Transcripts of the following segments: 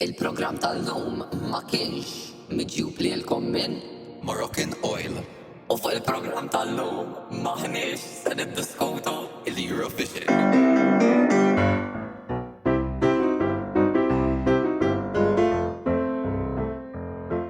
Il-programm tal-lum ma kienx miġjub lilkom minn. Moroccan Oil. U fuq il-programm tal-lum m'aħniex se niddiskutu l-Eurovision.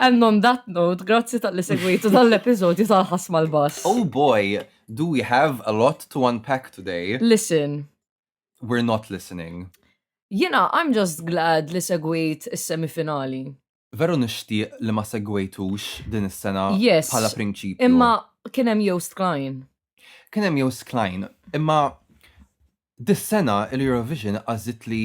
And on that note, grazzi tal-li segwitu tal-episodju tal-ħas mal-bas. Oh boy, do we have a lot to unpack today? Listen. We're not listening. Jena, I'm just glad li segwit is-semifinali. Veru nishtiq li ma segwejtux din is-sena yes, bħala prinċipju. Imma kien hemm Joost Klein. Kien hemm Joost Klein, imma dis-sena l-Eurovision għażit li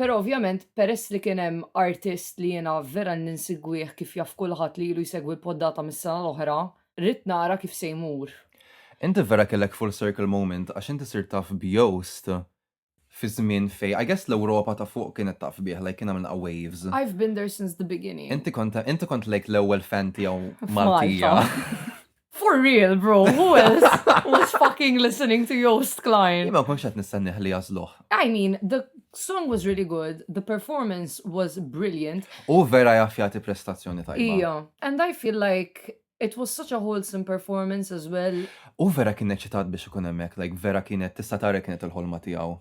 Però ovvjament peress li kien hemm artist li jiena vera ninsegwih kif jaf kulħadd li ilu jsegwi l-poddata mis-sena l-oħra, ridt nara kif se jmur. Inti vera kellek full circle moment għax inti sirt taf b'Joost fi żmien fejn I guess l-Ewropa ta' fuq kienet taf bih like kien għamilna waves. I've been there since the beginning. Inti kont inti kont like l-ewwel fan tiegħu Maltija. F'Malta. For real, bro, who else was fucking listening to Joost Klein? Ima konx qed nistenniħ li jażluh. I mean, the song was really good, the performance was brilliant. U vera jaf jagħti prestazzjoni tajba. Ija, and I feel like it was such a wholesome performance as well. U vera kien eċitat biex ikun hemmhekk, like vera kienet tista' tara kienet il-ħolma tiegħu.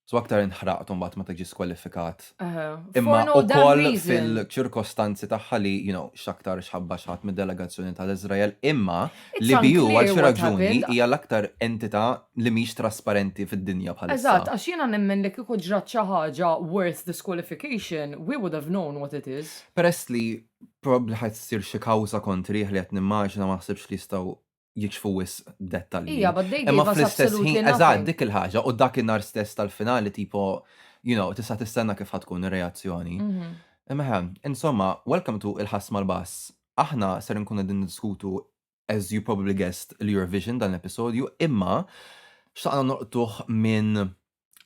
So aktar inħraqt u mbagħad ma tiġi skwalifikat. Aha. Imma For no damn ukoll reason. fil-ċirkostanzi tagħha li, you know, x'aktar xħabba xħadd mid-delegazzjoni tal-Iżrael, imma It's li BU unclear għal xi what raġuni happened. hija l-aktar entità li mhix trasparenti fid-dinja bħalissa. Eżatt, għax jiena nemmen li kieku ġrat xi ħaġa worth disqualification, we would have known what it is. Peress li probabbli ħadd issir xi kawża kontrih li qed nimmaġina ma naħsibx li jistgħu jiċfu wisq dettalji. Ija, but they gave us absolutely nothing. Eżatt, dik il-ħaġa, u dak in-nar stess tal-finali tipo, you know, tista' tistenna kif ħatkun ir-reazzjoni. Mhm. Imma, insomma, welcome to il-ħass mal-bass. Aħna ser nkunu din diskutu as you probably guessed, l-Eurovision dan l-episodju, imma xtaqna noqtuħ minn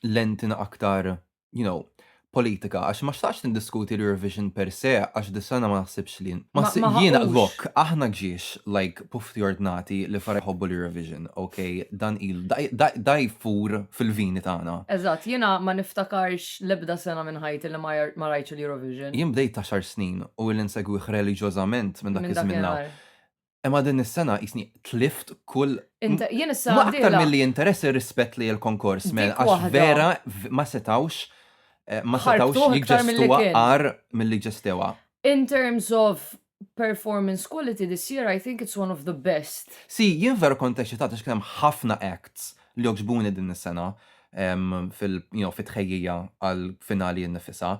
lentina aktar, you know, politika, għax ma xtaqx nindiskuti l-Eurovision per se, għax dis-sena ma naħsibx li. Ma Ma- s- ma jiena ħaqux. lok, aħna ġiex like pufti ordnati li fara jħobbu l-Eurovision, ok? Dan il da- da- da jfur fil-vini tagħna. Eżatt, jiena ma niftakarx l-ebda sena minn ħajti li ma jar- ma rajtx il-Eurovision. Jien bdejt ta' xar snin u li nsegwih reliġjożament minn dak Minn iż-żmien l-hawn. dakinhar. Imma din is-sena jisni tlift kull. Jien is-sena. Ma aktar mill-li interess ir-rispett li l-konkors men għax vera ma setawx eh, ma setawx jiġġestuwa għar mill-li ġestewa. In terms of performance quality this year, I think it's one of the best. Si, jien vera kont eċitat għax kienem ħafna acts li oġbuni din is-sena fil-tħejjija għal-finali n-nifisa.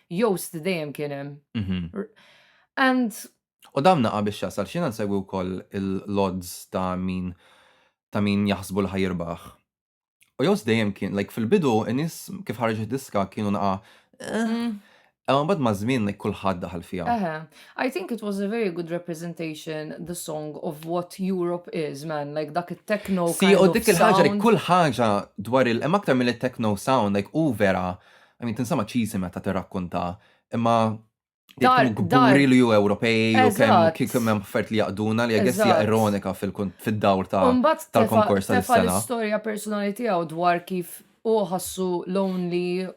Joost dejjem kien hemm. Mhm. And U dam naqa' biex jasal x'jiena nsegwi wkoll il-lodds ta' min ta' min jaħsbu li ħa jirbaħ. U Joost dejjem kien like fil-bidu in-nies kif ħareġ id-diska kienu naqa' eh. Mm. Imma mbagħad maż-żmien like kulħadd daħal fiha. Eħe. I think it was a very good representation the song of what Europe is, man, like dak it-techno Si, kind u of dik il-ħaġa li sound. kull ħaġa dwar il hemm aktar mill-techno sound, like u vera I mean, tinsema cheesy meta tirrakkonta, imma Dar, kemm dar. kburi li ju Ewropej u kemm Eżatt. kif kemm hemm affert li jaqduna li I guess hija Eżatt. ironika fil-kun- fid-dawr ta' Umbat tefa tal-konkors ta' tefa dis-sena. l-istorja personali tiegħu dwar kif hu ħassu lonely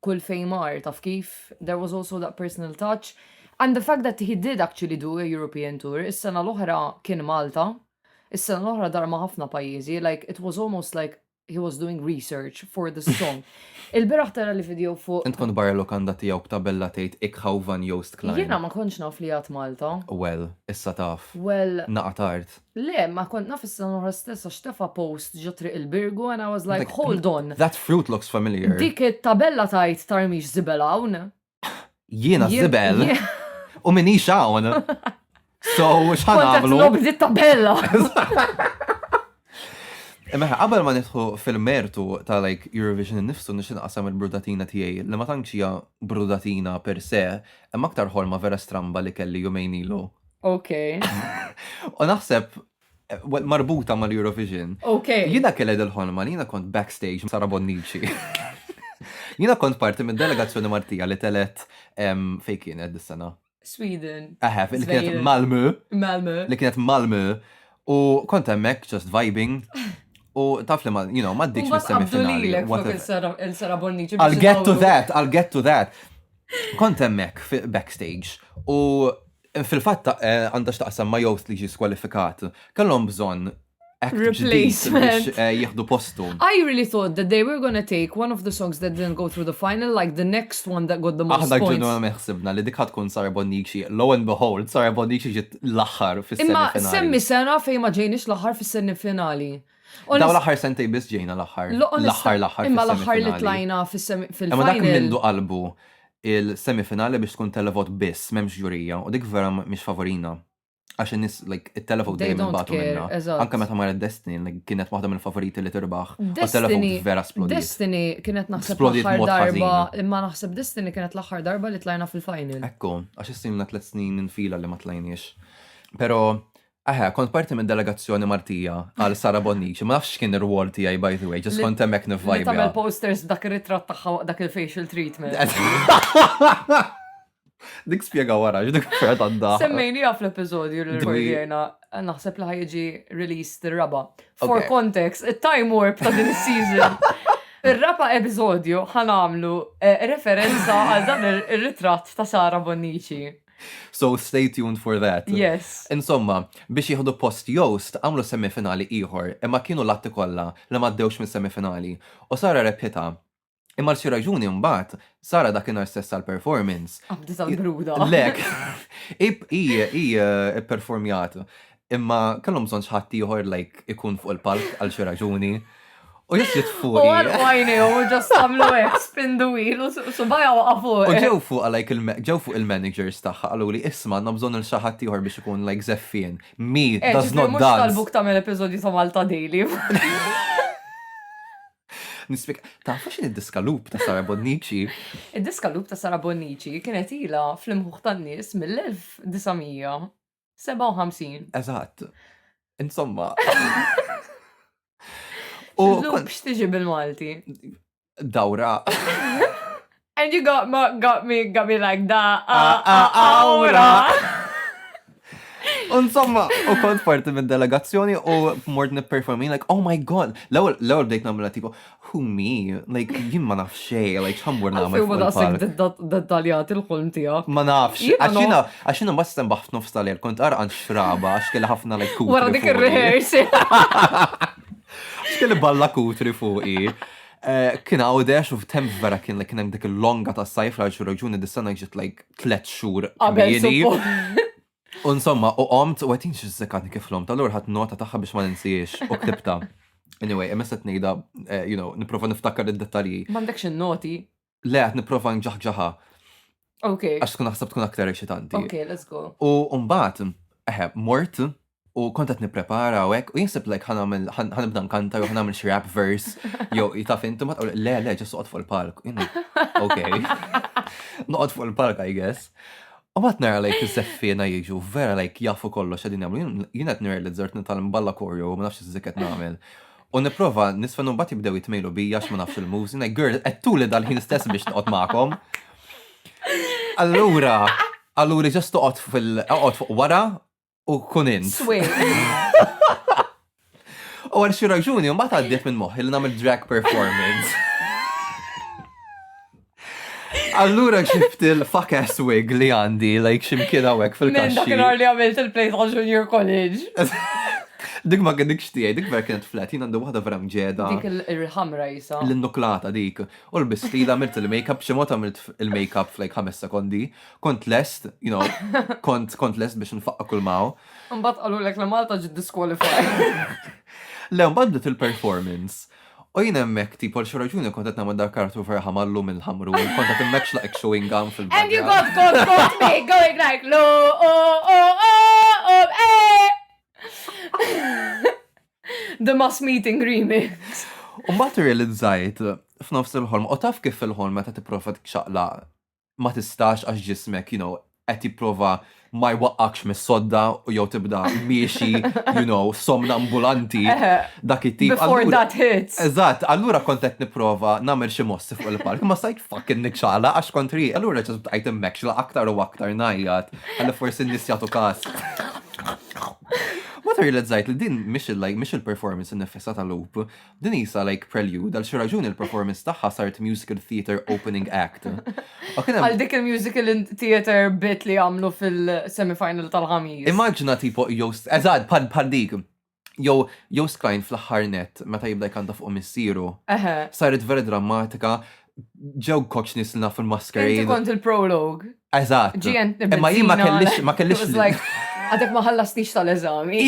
kull fejn mar, taf kif? There was also that personal touch. And the fact that he did actually do a European tour, is-sena l-oħra kien Malta, is-sena l-oħra dar ma' ħafna pajjiżi, like it was almost like he was doing research for the song. Il-biraħ tara li video fuq. Int kont barra lokanda tiegħu b'tabella tgħid Ik hou van Joost Klein. Jiena ma kontx naf li għad Malta. Well, issa taf. Well. Naqa' tard. Le, ma kont naf is-sena l-oħra stess għax tefa' post ġo Triq il-Birgu and I was like, hold on. That fruit looks familiar. Dik it-tabella tgħid tarmix żibel hawn. Jiena zibel u minni xawn. So, xħan għamlu? Kontet l tabella. Imma qabel ma nidħu fil-mertu ta' like Eurovision nifsu nixin qasam il-brudatina tiegħi li ma tantx hija brudatina per se, imma aktar ħolma vera stramba li kelli jumejn ilu. Ok. U naħseb marbuta mal-Eurovision. Ok. Jina kelled il-ħolma li jina kont backstage Sara Bonnici. Jina kont parti minn delegazzjoni Martija li telet fej kienet dis-sena. Sweden. Eħe, li kienet Malmö. Malmö. Li kienet Malmö. U kont hemmhekk just vibing. U taf li ma, you know, ma ddiċ mis-semifinali. Il-Sara Bonnici. I'll get to that, I'll get to that. Kont hemmhekk backstage u Fil-fatt għandha x'taqsam ma' Joost li ġie skwalifikat. Kellhom bżonn Replacement. Eh, jieħdu postu. I really thought that they were gonna take one of the songs that didn't go through the final, like the next one that got the most Aħna points. ġenwa meħsibna li dik tkun Sara Bonnici. Lo and behold, Sara Bonnici ġiet l-aħħar fis-semifinali. Imma semmi sena fejn ma ġejniex l-aħħar fis-semifinali. Daw l-aħħar sentej biss ġejna l-aħħar. L-aħħar l-aħħar. Imma l-aħħar li tlajna fil-final. Imma dak mindu qalbu il-semifinali biex tkun televot biss, m'hemmx ġurija, u dik vera mhix favorina. Għax in-nies, like, it-televot dejjem imbagħtu minna. Anke meta marret Destiny, like, kienet waħda mill-favoriti li tirbaħ. Destiny vera splodit. Destiny kienet naħseb l-aħħar darba, imma naħseb Destiny kienet l-aħħar darba li tlajna fil-final. Ekku, għax issilna tliet snin infila li ma tlajniex. Però Eħe, kont parti minn delegazzjoni Maltija għal Sara Bonnici, ma nafx x'kien ir-rwol tiegħi by the way, ġust kont hemmhekk nivvajbja. Li tagħmel posters b'dak ir-ritratt tagħha waqt dak il-facial treatment. Dik spjega wara, dik ferħet għadda. Semmejni għaf l-episodju li rridjena, naħseb li ħajġi released il-raba. For context, il-time warp ta' din season. Il-raba episodju ħanamlu eh, referenza għal dan il-ritrat ta' Sara Bonnici. So stay tuned for that. Yes. Insomma, biex jieħdu post Jost għamlu semifinali ieħor imma kienu latti kollha li maddewx minn semifinali u Sara rebħita. Imma l-xi raġuni mbagħad Sara dakinhar stess għall-performance. Abdi tal-bruda. Lek. I eh, performjat imma kellhom bżonn xi ħadd ieħor like ikun fuq il-palk għal xi raġuni. U jess jitfu. U għal għajni u ġast għamlu għek, spindu il, u subaja u għafu. U ġew fuq għalajk ġew fuq il-managers taħħa għallu li isma għanna bżon il-xaħat tiħor biex ikun like zeffien. Mi, eh, does not dance. Mux tal-buk tamel episodju ta' Malta Daily. Nispik, ta' faxin id-diska loop ta' Sara Bonnici? Id-diska loop ta' Sara Bonnici kienet ila fl-imħuħ tan-nis mill-1900. 57. Eżatt. Insomma. U kont x'tiġi bil-Malti? Dawra. And you got, ma, got me, got me like da, a, a, awra. Insomma, u kont parti minn delegazzjoni u mort nipperformi, like, oh my god, l-ewel, l-ewel bdejt namla tipo, Who me? Like, jien ma nafx xej, like, ħammur namel. Għalfej ma daqsek dettaljat il-ħolm tijak. Ma nafx, għaxina, għaxina ma s-sem baħt nofs tal-er, kont għan xraba, għax kelli ħafna like kutri. Wara dik il-rehearsi. Xkelli balla kutri fuqi. Eh, kien għawdex u f'temp vera kien li kien hemm dik il-longa ta' sajf għal xi raġuni dis-sena ġiet like tlet xhur. Qabel U insomma, u qomt, u għetin xizzekat kif l-om tal-ur ħat nota taħħa biex ma ninsiex u ktibta. Anyway, emessa t-nejda, eh, you know, niprofa niftakar id-detalji. Mandekx il-noti? Le, għat niprofa nġaħġaħa. Ok. Għax tkun naħseb tkun aktar eċitanti. Ok, let's go. U mbagħad, eħe, mort, U kont qed nipprepara u hekk, u jinsib like ħan nagħmel ħan nibda nkantar u ħan nagħmel xi rap verse jew taf inti ma tqol le le ġest noqgħod fuq il-palk. Ok. Noqgħod fuq il-palk I guess. U mat nara like iż-żeffiena jiġu vera like jafu kollox qegħdin jagħmlu. Jien qed nirrealizzart nitalm balla korju ma nafx iżżik qed nagħmel. U nipprova nisfen u mbagħad jibdew jitmejlu bija għax ma nafx il-moves. Jien like girl qed tuli dal-ħin stess biex noqgħod magħkom. Allura, allura ġest toqgħod fil-oqgħod fuq wara u kun int. Swing. U għal xi raġuni ma tgħaddiet minn moħħi li nagħmel drag performance. Allura ġibt il-fuck ass wig li għandi, like ximkien għawek fil-kaxxi. Dak il-għor li għamilt il-play ta' junior college. Dik ma għedik xtijaj, dik ver kienet flat, jina għandu wahda vera mġeda. Dik il-ħamra jisa. L-nuklata dik. U l-bistila għamilt il-makeup, ximot għamilt il-makeup fl-like 5 sekondi, kont lest, you know, kont, kont lest biex nfaqqa kull maw. Mbatt għallu l-ek la Malta ġid disqualify. Le, mbatt bdiet il-performance. U jien hemmhekk tipo l raġuni kont qed nagħmel dak kartu ferħa mallu mill-ħamru, kont qed immexx laqek chewing gum fil And you got got got me going like lo oh oh oh oh eh. The mass meeting remix. U mbagħad realizzajt f'nofs il-ħolm, u taf kif il-ħolm meta tipprova txaqla ma tistax għax ġismek, you know, qed jipprova ma jwaqqakx mis-sodda u jew tibda miexi, you know, somna ambulanti dak it-tip. Before that hits. Eżatt, allura kont qed nipprova nagħmel xi mossi fuq il-park, ma stajt fucking nikxala għax kontri, allura ġesu bqajt immekxla aktar u aktar najjat, għalli forsi n-nies jagħtu kas. Ma realizzajt li din mhix il-performance nifissa tal-loop, Din hi sa like prelude għal xi raġuni l-performance tagħha sart musical theater opening act. Għal dik il-musical theater bit li għamlu fil-semifinal tal-ħamis. Immaġna tipo jew eżad pan pan dik. Jew jew sklajn fl-aħħar net meta jibda jkanta fuq missieru. Saret vera drammatika ġew koċ nisna fil-maskerin. Inti kont il-prologue. Eżat. Imma jien ma kellix ma kellix. Għadek ma ħallastix tal-eżami.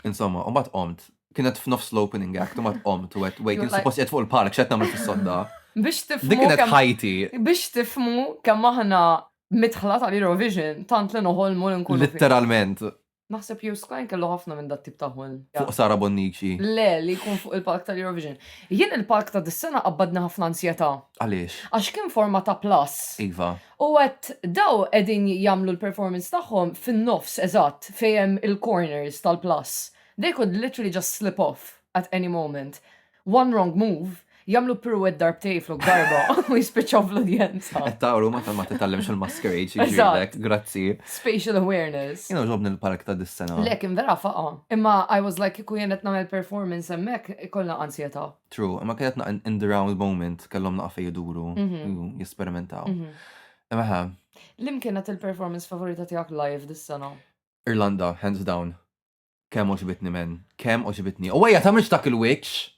Insomma, u mbagħad qomt. Kienet f'nofs l-opening act, u mbagħad qomt u għed, wait, jien suppost qed fuq il-palk, x'qed nagħmel fis-sodda? Biex tifmu. Dik kienet ħajti. Biex tifmu kemm aħna midħla tal-Eurovision, tant li noħolmu li nkunu. Litteralment. Naħseb li Skajn kellu ħafna minn dat tip ta' ħolm. Fuq Sara Bonnici. Le, li jkun fuq il-palk tal-Eurovision. Jien il-palk ta' dis-sena qabbadni ħafna ansjetà. Għaliex? Għax kien forma ta' plus. Iva. U għedt daw qegħdin jagħmlu l-performance tagħhom fin-nofs eżatt fejn hemm il-corners tal-plus. They could literally just slip off at any moment. One wrong move, jagħmlu pirouette darbtej flok darba u jispiċċaw fl-udjenza. Qed tara huma tal-ma titgħallimx il-masquerade xi jġielek, grazzi. Spatial awareness. Jien għoġobni l-park ta' dis-sena. Le kien vera faqa'. Imma I was like kieku jien qed nagħmel performance hemmhekk ikollna anzjetà. True, imma kienet naqqa in the round moment, kellhom naqqa fej iduru, mhm. jesperimentaw. Mhm. Imma ħa. Lim kienet il-performance favorita tiegħek live dis-sena? Irlanda, hands down. Kemm oġbitni men, kemm oġbitni. U għajja ta' mhux dak il-witch.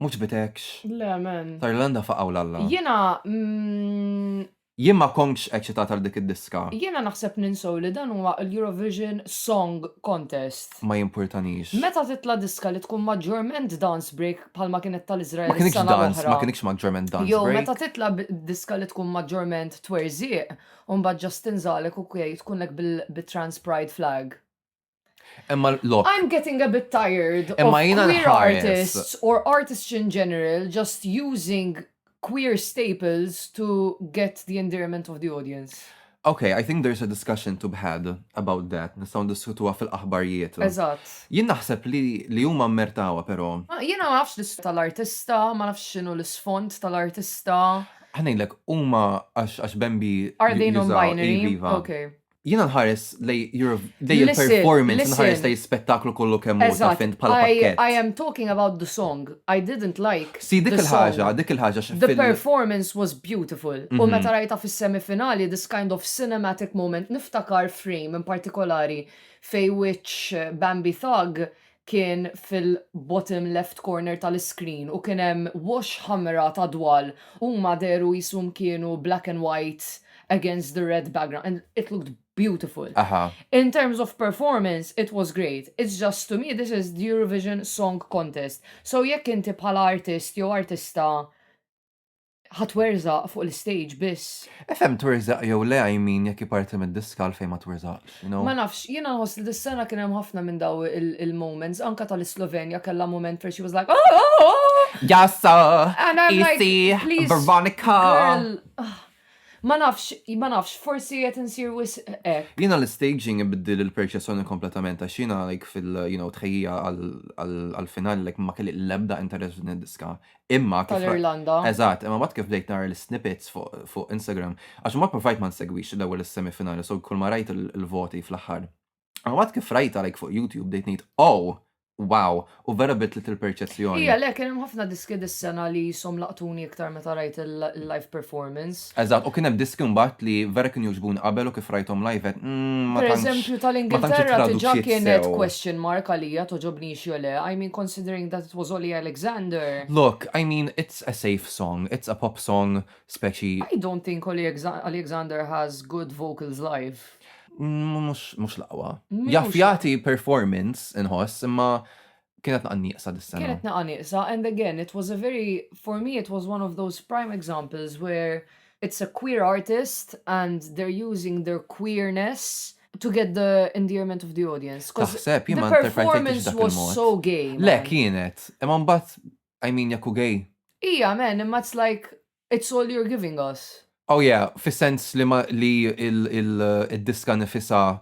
Mhux bitekx. Le men. Ta' Irlanda faqaw l-alla. Jiena mm, Jien ma kontx eċċitat għal dik id-diska. Jiena naħseb ninsew li dan huwa l-Eurovision Song Contest. Ma jimpurtanix. Meta titla' diska li tkun maġġorment dance break bħalma kienet tal-Iżrael is-sena l-oħra. Ma kinitx dance, ma kinitx maġġorment dance break. Jew meta titla' diska li tkun maġġorment twerżiq u mbagħad Justin Zalek u Kay tkun hekk bit-trans pride flag. Emma lok. I'm getting a bit tired Emma of jina queer artists or artists in general just using queer staples to get the endearment of the audience. Okay, I think there's a discussion to be had about that. Nistaw diskutuha fil-aħbarijiet. Eżatt. Jien naħseb li li huma mmertawa però. Ah, jiena ma nafx l-isfond tal-artista, ma nafx x'inhu l-isfond tal-artista. Ħanejlek huma għax għax Bambi. Are they non-binary? Iva. Okay. Jina nħares lej il-performance, nħares lej spettaklu kollu kemm hu ta' fint bħala pakket. I am talking about the song. I didn't like. Si dik il-ħaġa, dik il-ħaġa xi The performance was beautiful. U mhm. meta rajta fis-semifinali this kind of cinematic moment niftakar frame in partikolari fej wiċċ Bambi Thug kien fil-bottom left corner tal-iscreen u kien hemm wash ħamra ta' dwal huma dehru qishom kienu black and white against the red background and it looked beautiful. Aha. In terms of performance it was great, it's just to me this is the Eurovision Song Contest so jekk inti bħala artist jew artista Ħa twerzaq fuq l-istage biss. Efhem twerzaq jew le I mean jekk hi parti mid-disk għalfejn ma twerzaqx, you know? Ma nafx, jiena nħoss li dis-sena kien hemm ħafna minn daw il-moments, anke tal-Islovenja kellha mument fejn she was like oh oh oh! Jassa! And I'm like, please. Isi, Veronica! Girl, ah. Ma nafx, ma nafx, forsi qed insir wis hekk. Jiena l-staging ibiddil il-perċessjoni kompletament għax jiena like fil-tħejjija għall-finali like ma kelli l-ebda interess din id-diska. Imma kif. Tal-Irlanda. Eżatt, imma mbagħad kif bdejt nara l-snippets fuq Instagram, għax ma provajt ma nsegwix l-ewwel is-semifinali, so kull ma rajt il-voti fl-aħħar. Imma mbagħad kif rajtha like fuq YouTube bdejt ngħid, oh, wow, u vera bidlet il-perċezzjoni. Hi għalhekk kien hemm ħafna diski dis-sena li qishom laqtuni iktar meta rajt il-live performance. Eżatt, u kien hemm diski mbagħad li vera kienu jogħġbuni qabel u kif rajthom live għedt, mm, ma tantx. Pereżempju, tal-Ingilterra diġà kienet question mark għalija togħġobnix jew le, I mean considering that it was Olly Alexander. Look, I mean it's a safe song, it's a pop song speċi. I don't think Olly Alexander has good vocals live. Mhux l-aqwa. Jaf jagħti performance inħoss imma Kienet naqa nieqsa dis-sena. Kienet naqa nieqsa and again it was a very for me it was one of those prime examples where it's a queer artist and they're using their queerness to get the endearment of the audience. Taħseb, jien ma performance dak was so gay. Le, kienet. Imma mbagħad, I mean, jekku gay. Ija, men, imma it's like, it's all you're giving us. Oh yeah, fis-sens li li il-diska nifisa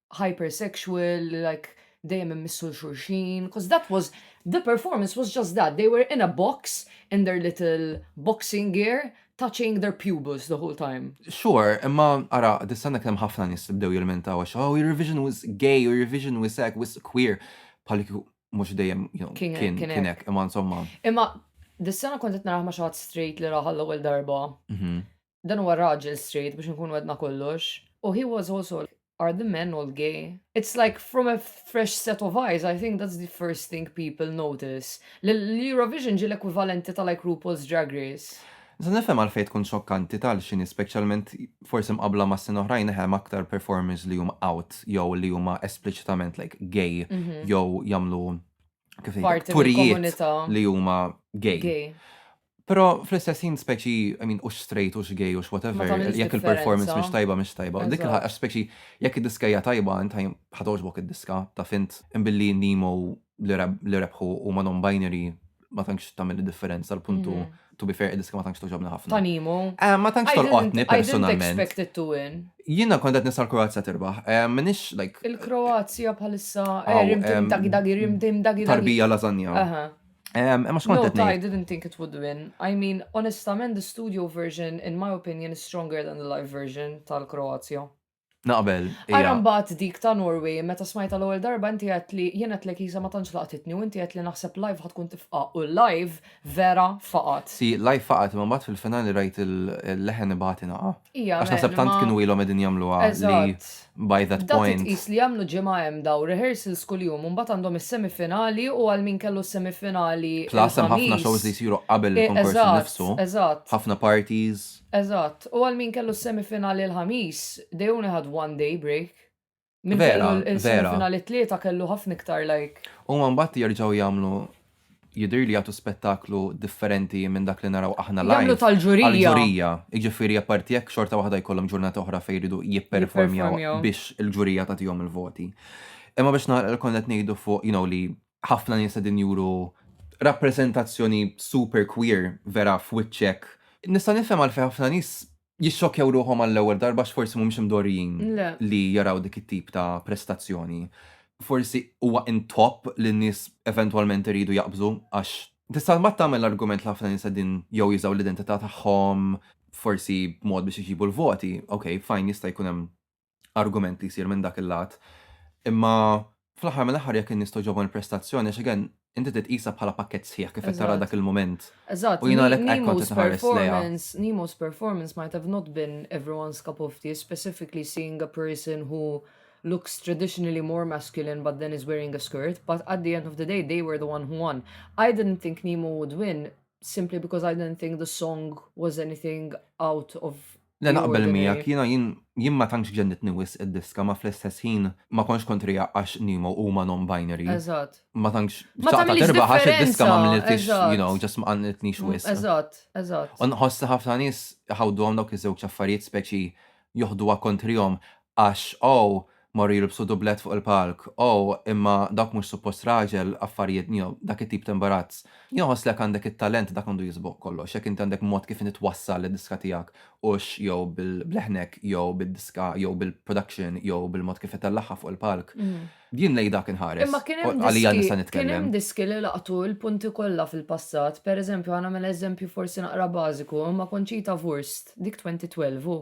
hypersexual, like dejjem immissu l-xurxin, because that was, the performance was just that, they were in a box, in their little boxing gear, touching their pubes the whole time. Sure, imma ara, distanna kien hemm ħafna nies li bdew jilmentaw għax oh, Eurovision was gay, Eurovision was hekk, was queer, bħal mhux dejjem kien hekk, imma insomma. Imma dis-sena kont qed narah ma' xi straight li raħal l-ewwel darba. Mhm. Dan huwa raġel straight biex inkunu għedna kollox. U he was also like, are the men all gay? It's like from a fresh set of eyes I think that's the first thing people notice li l-Eurovision ġie l-ekwivalenti ta' like RuPaul's Drag Race. Nista' nifhem għalfejn tkun xokkanti ta' l-xi nies speċjalment forsi mqabbla ma' snin oħrajn eħe hemm aktar performers li huma out jew li huma espliċitament like gay jew jagħmlu kif ngħidlek turijiet li huma gay. Però fl-istess ħin speċi, I mean, hux straight, hux gay, hux Ma whatever, tagħmilx jekk il-performance differenza. mhix tajba mhix tajba. Dik il-ħa- Eżatt. għax speċi jekk id-diska hija tajba int ħaj- ħa togħġbok id-diska, taf int. Imma billi Nemo li reb- li rebħu huma non-binary ma tantx tagħmel id-differenza, l-punt hu, Mhm. to be fair, id-diska ma tantx togħġobni ħafna. Ta' Nemo. Eh, ma tantx I didn't- tolqotni I didn't personalment. expect it to win. Jiena kont qed nista' l-Kroazja tirbaħ. Eh, M'iniex like Il-Kroazja bħalissa Aw, erim tim em, dagi dagi rim tim dagi dagi. tarbija lażanja. Aha. Imma xkont qed ngħid. I didn't think it would win. I mean, onestament, the studio version, in my opinion, is stronger than the live version tal-Kroazja. Naqbel. Ara mbagħad dik ta' Norway, meta smajta l-ewwel darba inti qed li jien qed lek ma tantx laqtitni u inti qed li naħseb live ħad tkun tifqa' u live vera faqat. Si, live faqat imma mbagħad fil-finali rajt il-leħen ibati naqa'. Ija, Għax naħseb tant kienu ilhom qegħdin jagħmluha li by that point. Dak is li jagħmlu ġimgħa hemm daw rehearsals kuljum u mbagħad għandhom is-semifinali u għal min kellu s-semifinali. Plus hemm ħafna shows li jsiru qabel eh, il-konkors nifsu. Eżatt. Ħafna parties. Eżatt. U għal min kellu s-semifinali l-Ħamis, they only had one day break. Minn Vera, fejn il- vera. il-finali tlieta kellu ħafna iktar like. U man batti jarġaw jamlu jidir li jagħtu spettaklu differenti minn dak li naraw aħna Jagħmlu live. tal-ġurija. Għal-ġurija, iġifiri apparti jekk xorta waħda jkollhom ġurnata oħra fejn jridu jipperformjaw Jipperformjaw. biex il-ġurija tagħtihom il-voti. Imma biex nagħlaq kont qed ngħidu fuq, you know, li ħafna nies qegħdin juru rappreżentazzjoni super queer vera f'wiċċek. Nista' nifhem għalfejn ħafna nies jissokjaw ruħhom għall-ewwel darba x'forsi mhumiex imdorrijin li jaraw dik it-tip ta' prestazzjoni. Forsi huwa in top li n-nies eventwalment iridu jaqbżu għax tista' mbagħad tagħmel l-argument li ħafna nies qegħdin jew jużaw l-identità tagħhom forsi b'mod biex iġibu l-voti, ok, fine jista' jkun hemm argument li jsir minn dak il-lat. Imma fl-aħħar mill-aħħar jekk in-nies togħġobhom il-prestazzjoni għax again inti trid tqisha bħala pakkett sħiħ kif qed tara dak il-mument. Eżatt. U jien għalhekk hekk kont qed inħares lejha. Nemo's performance might have not been everyone's cup of tea, specifically seeing a person who looks traditionally more masculine but then is wearing a skirt, but at the end of the day they were the one who won. I didn't think Nemo would win simply because I didn't think the song was anything out of Le naqbel miegħek, jiena jien jien ma tantx ġennitni wisq id-diska ma fl-istess ħin ma kontx kontriha għax Nemo huma non-binary. Eżatt. Ma tantx Ma xtaqtha tagħmilx tirbah għax id-diska differenza, m'għamliltix, you eżatt. know, just ma qanqiltnix wisq. Eżatt, eżatt. U nħoss li ħafna nies iħawduhom dawk iż-żewġ affarijiet speċi joħduha kontrihom għax oh, Morru jilbsu dublett fuq il-palk. Oh, imma dawk mhux suppost raġel, affarijiet njo, dak it-tip ta' imbarazz. Jew ħoss li jekk għandek it-talent dak għandu jisboq kollox, jekk inti għandek mod kif inti twassal id-diska tiegħek hux jew bil-bleħnek jew bid-diska jew bil-production jew bil-mod kif itellagħha fuq il-palk. Jien lejn dak inħares. Imma kien hemm diski. Għalija nista' nitkellem. Kien hemm diski li laqtu l-punti kollha fil-passat. Per eżempju, ħa nagħmel eżempju forsi naqra bażiku, imma Conchita Wurst, dik 2012, hu.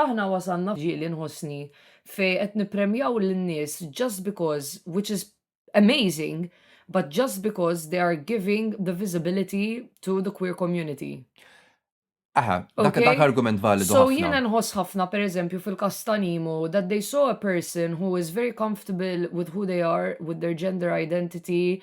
Aħna wasalna f'ġieli nħossni fejn qed nippremjaw lin-nies just because which is amazing but just because they are giving the visibility to the queer community. Aha, dak dak argument validu ħafna. So jiena nħoss ħafna per eżempju fil-każ ta' Nemo that they saw a person who is very comfortable with who they are, with their gender identity,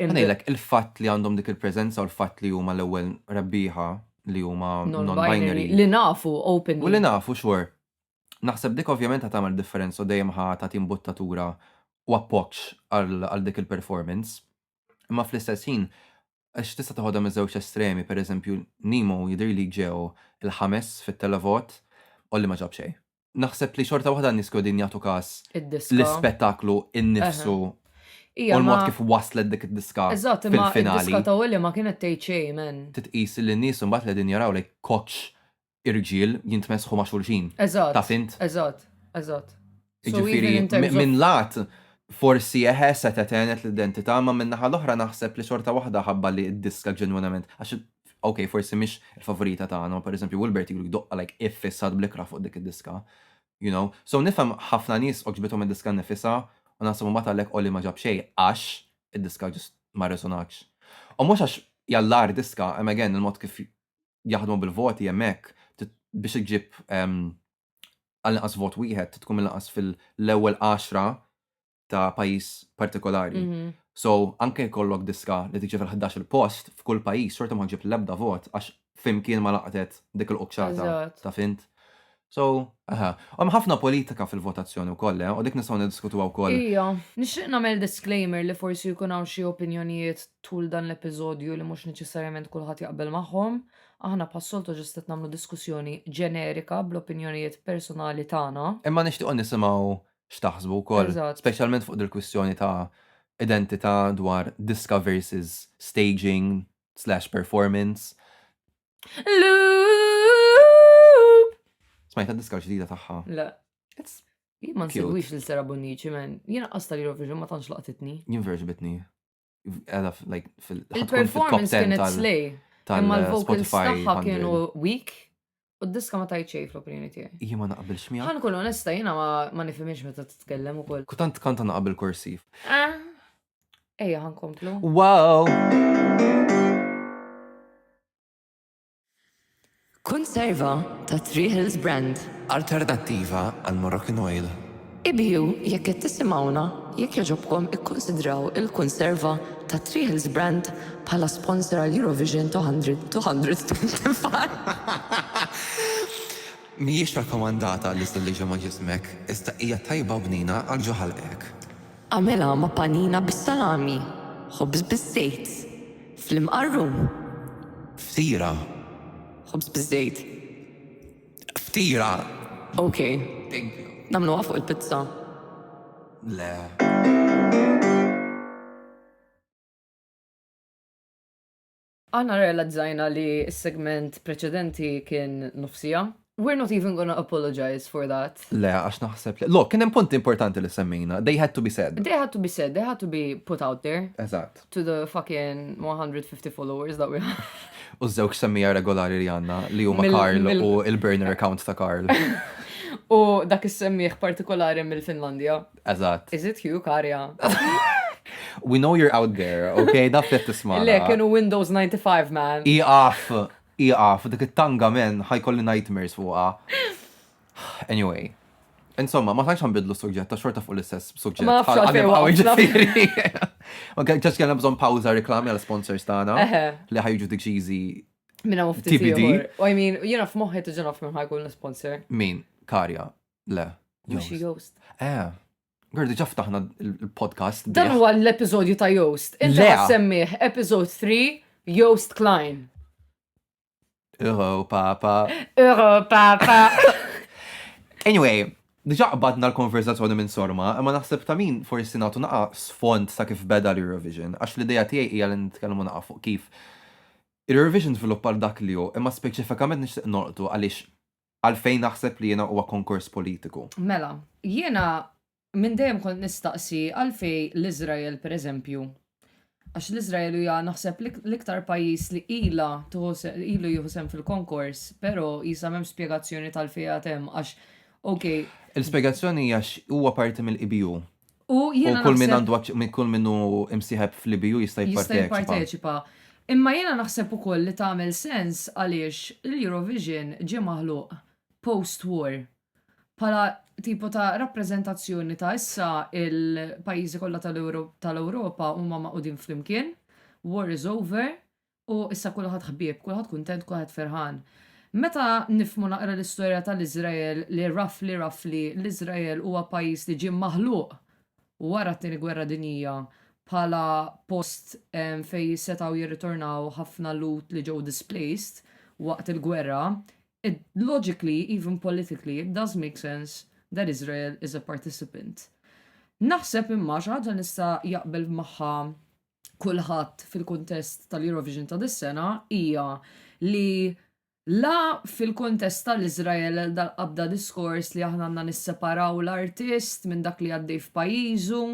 Ħa ngħidlek, il-fatt li għandhom dik il-preżenza u l-fatt li huma l-ewwel rebbieħa li huma non-binary. Li nafu openly. U li nafu sure. Naħseb dik ovvjament ħa tagħmel differenza u dejjem ħa tagħti mbuttatura u appoġġ għal dik il-performance. Imma fl-istess ħin, għax tista' teħodha miż-żewġ estremi, pereżempju Nemo jidhirli ġew il-ħames fit-televot, Olli ma ġab xejn. naħseb li xorta waħda n-nies qegħdin jagħtu każ l-ispettaklu innifsu u l-mod kif waslet dik id-diska fil-finali. Eżatt, imma id-diska ta' Willy ma kienet tgħid xejn, man. Titqis li n-nies imbagħad li qegħdin jaraw like kotx irġiel jintmessħu ma' xulxin. Eżatt. Taf int? Eżatt, eżatt. Jiġifieri minn lat forsi eħe setgħet għenet l-identità imma min-naħa l-oħra naħseb li xorta waħda ħabba li d-diska ġenwinament għax Ok, forsi mhix il-favorita tagħna, ma pereżempju Wilbert ilu jdoqqa like iffissat bl-ikrah fuq dik id-diska. You know? So nifhem ħafna nies għoġbithom id-diska nnifisha u naħseb imbagħad għalhekk Oli ma ġab xejn għax id-diska just ma resonatx. U mhux għax hija l-agħar diska, imma again il-mod kif jaħdmu bil-voti hemm hekk, biex iġġib għall-inqas vot wieħed trid tkun mill-inqas fil-ewwel għaxra ta' pajjiż partikolari. So, anke jkollok diska li tiġi fil-11 il-post, f'kull pajjiż xorta ma ġib l-ebda vot għax flimkien ma laqtet dik il-qċata ta' fint. So, aha, hemm ħafna politika fil-votazzjoni wkoll, eh, u dik nistgħu niddiskutuha wkoll. Ija, nixtieq nagħmel disclaimer li forsi jkun hawn xi opinjonijiet tul dan l-episodju li mhux neċessarjament kulħadd jaqbel magħhom. Aħna bħas-soltu ġust qed nagħmlu diskussjoni ġenerika bl-opinjonijiet personali tagħna. Imma nixtiequ nisimgħu x'taħsbu wkoll, speċjalment fuq dil-kwistjoni ta' identità dwar diska versus staging slash performance. Loop! Smajta diska l-ġdida tagħha? Le. Jien ma nsegwix lil Sera Bonnici, men. Jien qasta li Eurovision ma tantx laqtitni. Jien verġbitni. Il-performance kienet slej. Imma l-vocals tagħha kienu weak. U d-diska ma tajt xej fl-opinjoni tiegħi. Jien ma naqbilx miegħek. Ħan kun onesta jiena ma nifhimx meta titkellem ukoll. Kutant kanta naqbel kursiv. Ah. Ejja ħan komplu. Wow! Konserva ta' Three Hills Brand. Alternattiva għal Moroccan Oil. Ibhiew jekk qed tisimgħuna jekk jogħġobkom ikkunsidraw il-Konserva ta' Three Hills Brand bħala sponsor għal Eurovision 225. Mhijiex rakkomandata għal iżda liġa ma' ġismek, iżda hija tajba u bnina għal ġo ħalqek. Agħmilha ma' panina bis-salami, ħobż biż-żejt, fl-imqarrun. Ftira. Ħobż biż-żejt. Ftira. Ok. Thank you. Nagħmluha fuq il-pizza? Le. Aħna rrealizzajna li s-segment preċedenti kien nofs siegħa. We're not even gonna apologize for that. Le, għax naħseb li. Lok, kien hemm punti importanti li semmejna. They had to be said. They had to be said, they had to be put out there. Eżatt. To the fucking 150 followers that we have. U żewġ semmija regolari li għandna li huma Karl u il-burner account ta' Karl. U dak is-semmiħ partikolari mill-Finlandja. Eżatt. Is it you, Karja? We know you're out there, ok? Daf li tisma. Le, kienu Windows 95, man. Iqaf, iqaf, dik it-tanga men, ħajkolli nightmares fuqa. Anyway. Insomma, ma tantx nbidlu suġġett, ta' xorta fuq l-istess suġġett. Ma nafx għalfejn waqgħu ġifieri. Ok, ġax kellna bżonn pawża reklami għal sponsors tagħna li ħajġu dik ġiżi. Minna mufti. TBD. I mean, jiena f'moħħi tiġi naf minn ħajkun l-sponsor. Min? Karja. Le. Mux Joost. Eh, Għardi ġaftaħna il-podcast. Dan huwa l-episodju ta' Joost. Inti semmiħ, episode 3, Joost Klein. Euro papa. Euro papa. anyway, diġa qbadna l-konverzazzjoni minn sorma, imma naħseb ta' min forsi nagħtu naqa sfond ta' kif beda l-Eurovision, għax l-ideja tiegħi hija li nitkellmu naqa fuq kif. Il-Eurovision żviluppa dak li hu, imma speċifikament nixtieq norqtu għaliex għalfejn naħseb li jiena huwa konkors politiku. Mela, jiena minn dejjem kont nistaqsi għalfejn l-Iżrael pereżempju, għax l-Iżrael hija naħseb l-iktar pajjiż li ilha ilu jieħu sehem fil-konkors, però jisa' m'hemmx spjegazzjoni t'għalfejn għad hemm għax, okej. Il-spjegazzjoni hija għax huwa parti mill-EBU. U kull minn għandu minn kull minnu imsieħeb fl-IBU jista' jipparteċipa. Imma jiena naħseb ukoll li tagħmel sens għaliex l-Eurovision ġie maħluq post-war bħala tipo ta' rappreżentazzjoni ta' issa il-pajjiżi kollha tal-Ewropa huma maqudin flimkien, war is over, U issa kulħadd ħbieb, kulħadd kuntent, kulħadd ferħan. Meta nifhmu naqra l-istorja tal-Iżrael li roughly roughly l-Iżrael huwa pajjiż li ġie maħluq wara t-Tieni Gwerra Dinjija bħala post fejn setgħu jirritornaw ħafna Lhud li ġew displaced waqt il-gwerra, it logically, even politically, it does make sense that Israel is a participant. Naħseb imma, xi ħaġa nista' jaqbel magħha kulħadd fil-kuntest tal-Eurovision ta' dis-sena hija li la fil-kuntest tal-Iżrael dal-qabda diskors li aħna għandna nisseparaw l-artist minn dak li għaddej f'pajjiżu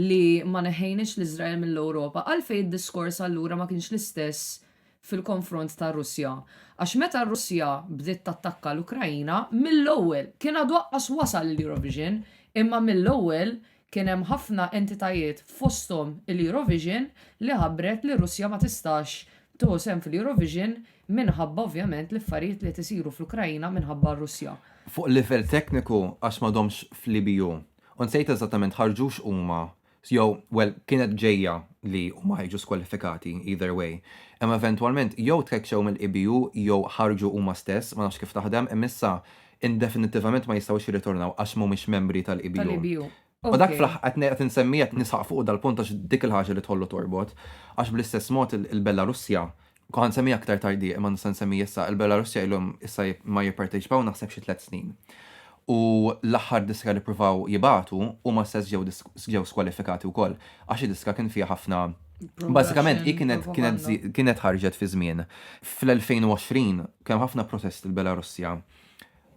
li ma neħħejniex l-Iżrael mill-Ewropa, għalfejn id-diskors allura ma kienx l-istess fil-konfront tar-Russja? Għax meta r-Russja bdiet tattakka l-Ukraina, mill-ewwel, kien għadu aqqas wasal l-Eurovision, imma mill-ewwel Kien hemm ħafna entitajiet fosthom il-Eurovision li ħabbret li Russja ma tistax tieħu sehem fil-Eurovision minħabba ovvjament l-affarijiet li qed isiru fl-Ukraina minħabba r-Russja. Fuq livell tekniku għax m'għadhomx fl-EBU u nsejt eżattament ħarġux huma jew well kienet ġejja li huma jiġu skwalifikati either way imma eventwalment jew tkeċċew mill-EBU jew ħarġu huma stess ma nafx kif taħdem imma issa indefinittivament ma jistgħux jirritornaw għax m'humiex membri tal-EBU. Tal-EBU. U dak fl-aħħar qed ngħid qed insemmi qed nisħaq fuqu dal-punt għax dik il-ħaġa li tħollu torbot. Għax bl-istess mod il-Belarusja, ħa nsemmiha aktar tardie imma nista' nsemmi issa, il-Belarusja ilhom issa ma jipparteċipaw naħseb xi tliet snin. U l-aħħar diska li ppruvaw jibagħtu huma stess ġew ġew skwalifikati wkoll għax id-diska kien fiha ħafna Bażikament hi kienet kienet kienet ħarġet fi żmien fl-2020 Kien hemm ħafna protesti fil-Belarussja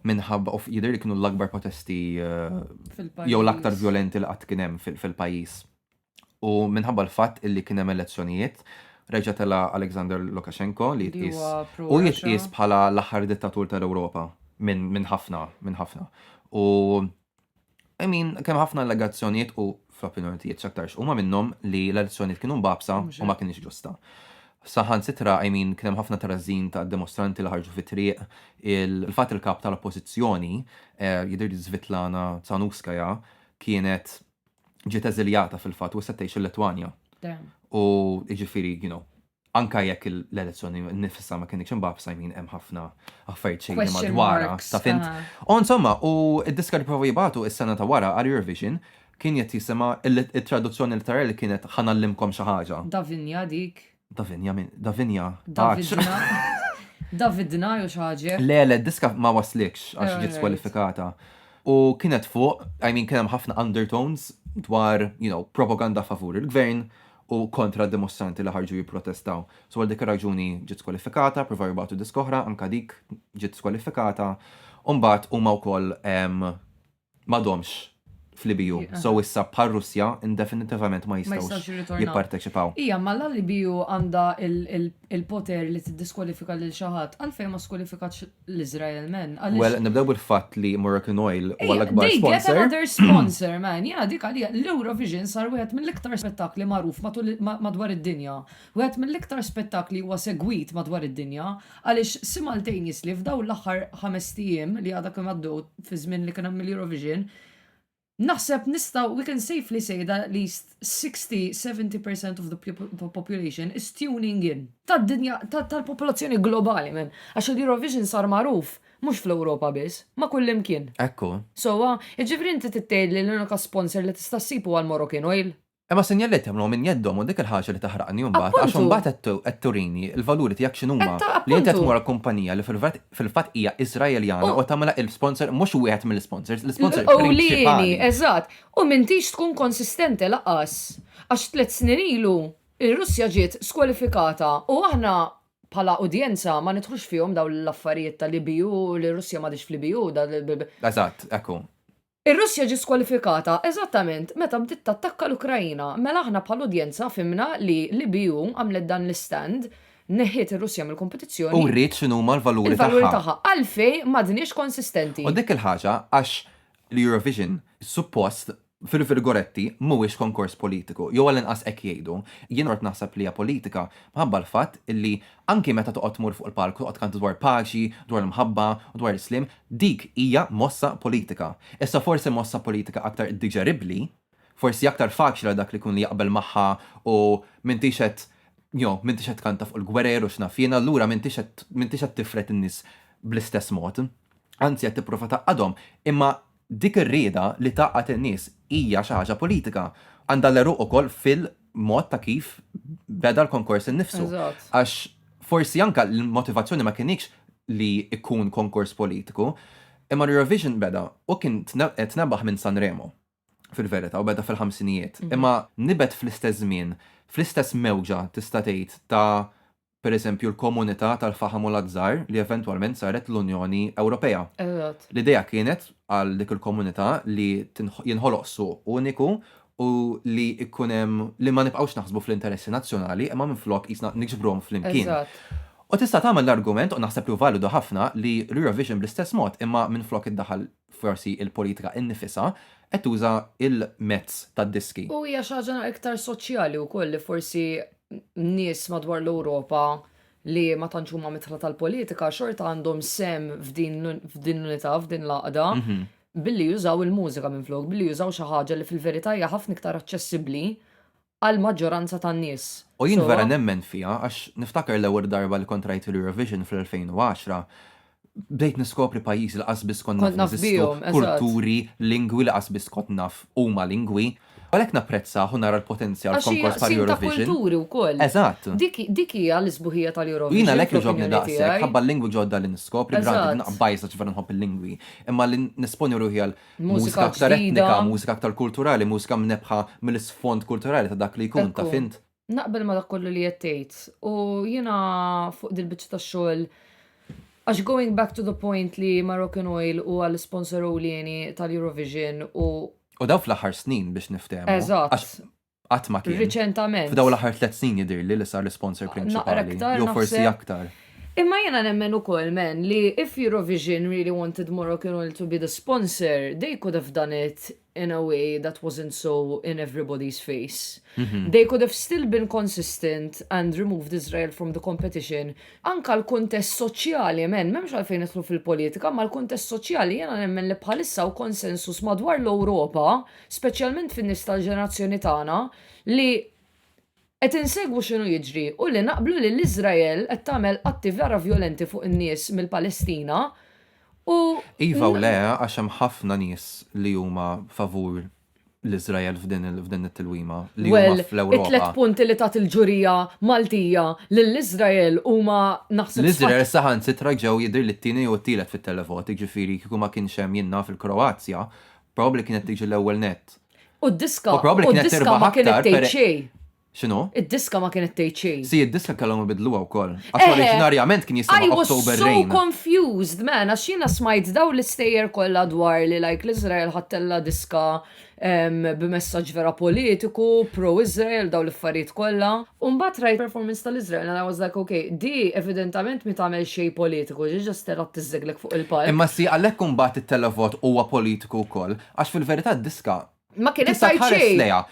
minħabba u jidher li kienu l-akbar protesti jew l-aktar vjolenti li qatt kien hemm fil-pajjiż. U minħabba l-fatt illi kien hemm elezzjonijiet, reġa' tela' Alexander Lukashenko li jitqies u jitqies bħala l-aħħar dittatur tal-Ewropa minn ħafna, minn ħafna. U I mean, kemm ħafna allegazzjonijiet u fl-opinjoni tiegħi x'aktarx huma minnhom li l-elezzjonijiet kienu mbagħbsa u ma kinitx ġusta. Saħansitra, I mean, kien hemm ħafna trażżin ta' dimostranti li ħarġu fit-triq, il-fatt li l-Kap tal-Oppożizzjoni, jidhirli Svitlana Tsahanouskaya, kienet ġiet eżiljata fil-fatt u issa tgħix il-Litwanja. U jiġifieri, you know, anke jekk l-elezzjoni nifisha ma kienx imbagħad I mean hemm ħafna affarijiet xejn madwar ta' fint. U insomma, u d-diska li provaw jibgħatu is-sena ta' wara għal Eurovision kien qed jisimha it-traduzzjoni letterali kienet Ħa ngħallimkom xi ħaġa. Davinja dik. Davinja min? Davinja. Davidna. Davidna jew xi ħaġa. Le, le, d-diska ma waslikx għax ġiet skwalifikata. U kienet fuq, I mean kien hemm ħafna undertones dwar, you know, propaganda favur il-gvern u kontra d-dimostranti li ħarġu jipprotestaw. So għal dik ir-raġuni ġiet skwalifikata, pprovaw jibagħtu disk oħra, anke dik ġiet skwalifikata, u mbagħad huma wkoll m'għadhomx fl-EBU. So issa bħar-Russja indefinitivament ma jistgħux jipparteċipaw. Hija imma l-EBU għandha l-poter li tiddiskwalifika lil xi ħadd, għalfejn ma skwalifikatx l-Iżrael man. Well, nibdew bil-fatt li Moroccan Oil huwa l-akbar sponsor. They get another sponsor man, jiena dik għalija l-Eurovision sar wieħed mill-iktar spettakli magħruf madwar id-dinja. Wieħed mill-iktar spettakli huwa segwit madwar id-dinja għaliex simultaneously f'dawn l-aħħar ħamest ijiem li għadha kemm għaddew fi żmien li kien hemm l-Eurovision, Naħseb nistgħu, we can safely say that at least 60, 70 percent of the population is tuning in. Tad-dinja, tal-popolazzjoni globali, man. Għax il-Eurovision sar magħruf mhux fl-Ewropa biss, ma' kullimkien. Hekk hu. Sewwa, jiġifieri inti trid tgħidli li l-unika sponsor li tista' ssib huwa l-Moroccan Oil? Imma s-sinjaliet jagħmluhom minn jeddhom u dik il-ħaġa li taħraqni mbagħad għax Appuntu! imbagħad qed qed turini l-valuri tiegħek x'inhuma, Qed ta- li inti qed appuntu! tmur għal kumpanija li fil-vert fil-fatt hija Iżraeljana U- u tagħmilha il-sponsor mhux wieħed mill-isponsors, l-isponsor L-ewlieni, prinċipali. eżatt. U m'intix tkun konsistenti lanqas. Għax tliet snin ilu r-Russja ġiet skwalifikata u aħna bħala udjenza ma nidħlux fihom dawn l-affarijiet tal-EBU, li r-Russja m'għadhiex fl-EBU, da- Eżatt, hekk hu. Ir-Russja ġiet skwalifikata eżattament meta bdiet tattakka l-Ukraina, mela aħna bħala udjenza fhimna li l-EBU għamlet dan l-istand, neħħiet ir-Russja mill-kompetizzjoni, U wriet x'inhuma l-valuri tagħha. Il-valuri tagħha. Għalfejn m'għadniex konsistenti? U dik il-ħaġa għax l-Eurovision suppost, fil-virgoletti, mhuwiex konkors politiku, jew għall-inqas hekk jgħidu. Jien qgħodt naħseb li hija politika minħabba l-fatt li Anki meta toqgħod tmur fuq il-palk u toqgħod tkanti dwar paċi, dwar l-mħabba u dwar l-isliem, dik hija mossa politika. Issa forsi mossa politika aktar diġeribbli, forsi aktar faċli għal dak li jkun li jaqbel magħha u m'intix qed you know m'intix qed tkanta fuq il-gwerer u x'naf jien, allura m'intix qed m'intix qed tifred in-nies bl-istess mod. Anzi qed tipprova tgħaqqadhom. Imma Dik ir-rieda li tgħaqqad in-nies hija xi ħaġa politika. Għandha l-għeruq ukoll fil-mod ta' kif beda l-konkors innifsu. Għax forsi anke l-motivazzjoni ma kinitx li jkun konkors politiku, imma l-Eurovision beda u kien tnebaħ minn Sanremo fil-verità u beda fil-ħamsinijiet. Imma nibet fl-istess żmien, fl-istess mewġa tista' tgħid ta' pereżempju l-Komunità tal-Faħam u l-Azzar li eventwalment saret l-Unjoni Ewropea. Eżatt. L-idea kienet għal dik il-komunità li jinħoloq suq uniku u li jkun hemm li ma nibqgħux naħsbu fl-interessi nazzjonali imma minflok qisna niġbruhom flimkien. Eżatt. U tista' tagħmel l-argument, u naħseb li hu validu ħafna, li l-Eurovision bl-istess mod imma minflok iddaħħal forsi il-politika innifisha qed tuża l-mezz tad-diski. U hija xi ħaġa iktar soċjali wkoll li forsi nies madwar l-Ewropa li ma tantx huma midħla tal-politika xorta għandhom sehem f'din l-unità, f'din l-għaqda, billi jużaw il-mużika minflok, billi jużaw xi ħaġa li fil-verità hija ħafna iktar aċċessibbli għall-maġġoranza tan-nies. U jien vera nemmen fiha għax niftakar l-ewwel darba li kont rajt l-Eurovision fl-2010, bdejt niskopri pajjiżi li qatt biss kont naf li jeżistu, kulturi, lingwi li qatt biss kont naf huma lingwi. Għalhekk napprezzah u nara l-potenzjal f'konkors bħal Eurovision. Għax hija qsim ta' kulturi wkoll. Eżatt. Dik hija l-isbuħija tal-Eurovision. U jien għalhekk jogħġobni daqshekk, ħabba l-lingwi ġodda li niskopri, b'ragħad naqgħod bajża ġifier nħobb il-lingwi, imma li nesponi ruħi għal Mużika aktar etnika, mużika aktar kulturali, mużika mnebbħa mill-isfond kulturali ta' dak li jkun, taf int? Naqbel ma' dak kollu li qed tgħid. U jiena fuq dil-biċċa tax-xogħol għax going back to the point li Moroccan Oil huwa l-isponsor ewlieni tal-Eurovision u U dawn fl-aħħar snin biex niftehmu. Eżatt. qatt ma kien. Riċentament. F'daw l-aħħar tliet snin jidhirli li sar l-isponsor prinċipali. Jew forsi aktar. Imma jiena nemmen ukoll men li if Eurovision really wanted Moroccan Oil to be the sponsor, they could have done it in a way that wasn't so in everybody's face. They could have still been consistent and removed Israel from the competition. Anka l-kuntest soċjali, men, memx għalfejn nidħlu fil-politika, ma l-kuntest soċjali jena nemmen li bħalissa u konsensus madwar l-Ewropa speċjalment fin-nies tal-ġenerazzjoni tagħna, li qed insegwu x'inhu jiġri u li naqblu li l-Iżrael qed tagħmel atti vera vjolenti fuq in-nies mill-Palestina u. Iva u le, għax hemm ħafna nies li huma favur l-Iżrael f'din it-tilwima li huma fl-Ewropa. Well, it-tliet punti li tat il-ġurija Maltija lill-Iżrael huma naħseb. L-Iżrael saħansitra ġew jidhirli t-tieni jew it-tielet fit-televot, jiġifieri kieku ma kienx hemm jien naf il-Kroazja, Probabbli kienet tiġi l-ewwel net. U d-diska U probabbli u kienet d-diska tirbaħ ma kienet aktar tgħid pere- xejn. X'inhu? Id-diska ma kienet tgħid xejn. Si, id-diska kellhom ibidluha wkoll. Għax Eħe. oriġinarjament kien I jisimha was October so Rain. confused, man, għax jiena smajt dawn l-istejjer kollha dwar li like l-Iżrael ħadtilha diska em, b'messaġġ vera politiku, pro-Iżrael, dawn l-affarijiet kollha. U mbagħad rajt performance tal-Iżrael and I was like, okay, di evidentament mi tagħmel xejn politiku, ġi ġast terra tiżżeglek fuq il-palk. Imma si għalhekk imbagħad it-televot huwa politiku wkoll, għax fil-verità d-diska Ma kienet tista' tgħid tħares xejn. lejha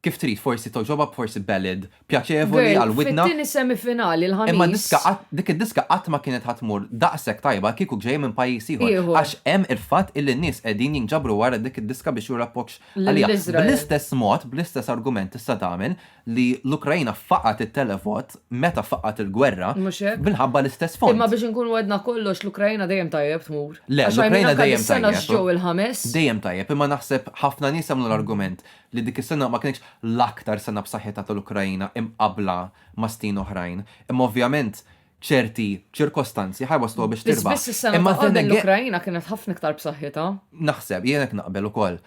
kif trid, forsi toġobha, forsi ballad pjaċevoli Girl, għal widna. fit-tieni semifinali l-Ħamis. Imma diska qatt dik id-diska qatt ma kienet ħa tmur daqshekk tajba kieku ġejja minn pajjiż ieħor. Ieħor. Għax hemm il-fatt illi n-nies qegħdin jinġabru wara dik id-diska biex juru appoġġ għaliha. Lill-Iżrael. Bl-istess mod, bl-istess argument tista' tagħmel li l-Ukraina faqgħet it-televot meta faqgħet il-gwerra minħabba l-istess fond. Imma biex inkunu għedna kollox l-Ukraina dejjem tajjeb tmur. Le, l-Ukraina dejjem sena ġew il-ħames. Dejjem tajjeb, imma naħseb ħafna nies għamlu l-argument li dik is-sena ma kinitx l-aktar sena b'saħħitha tal-Ukraina imqabbla ma' snin oħrajn. Imma ovvjament ċerti ċirkostanzi ħajwassluha biex Biss tirbaħ. biss is-sena Imma ta' then qabel again- l-Ukrajina kienet ħafna iktar b'saħħitha. Naħseb, jien hekk naqbel ukoll.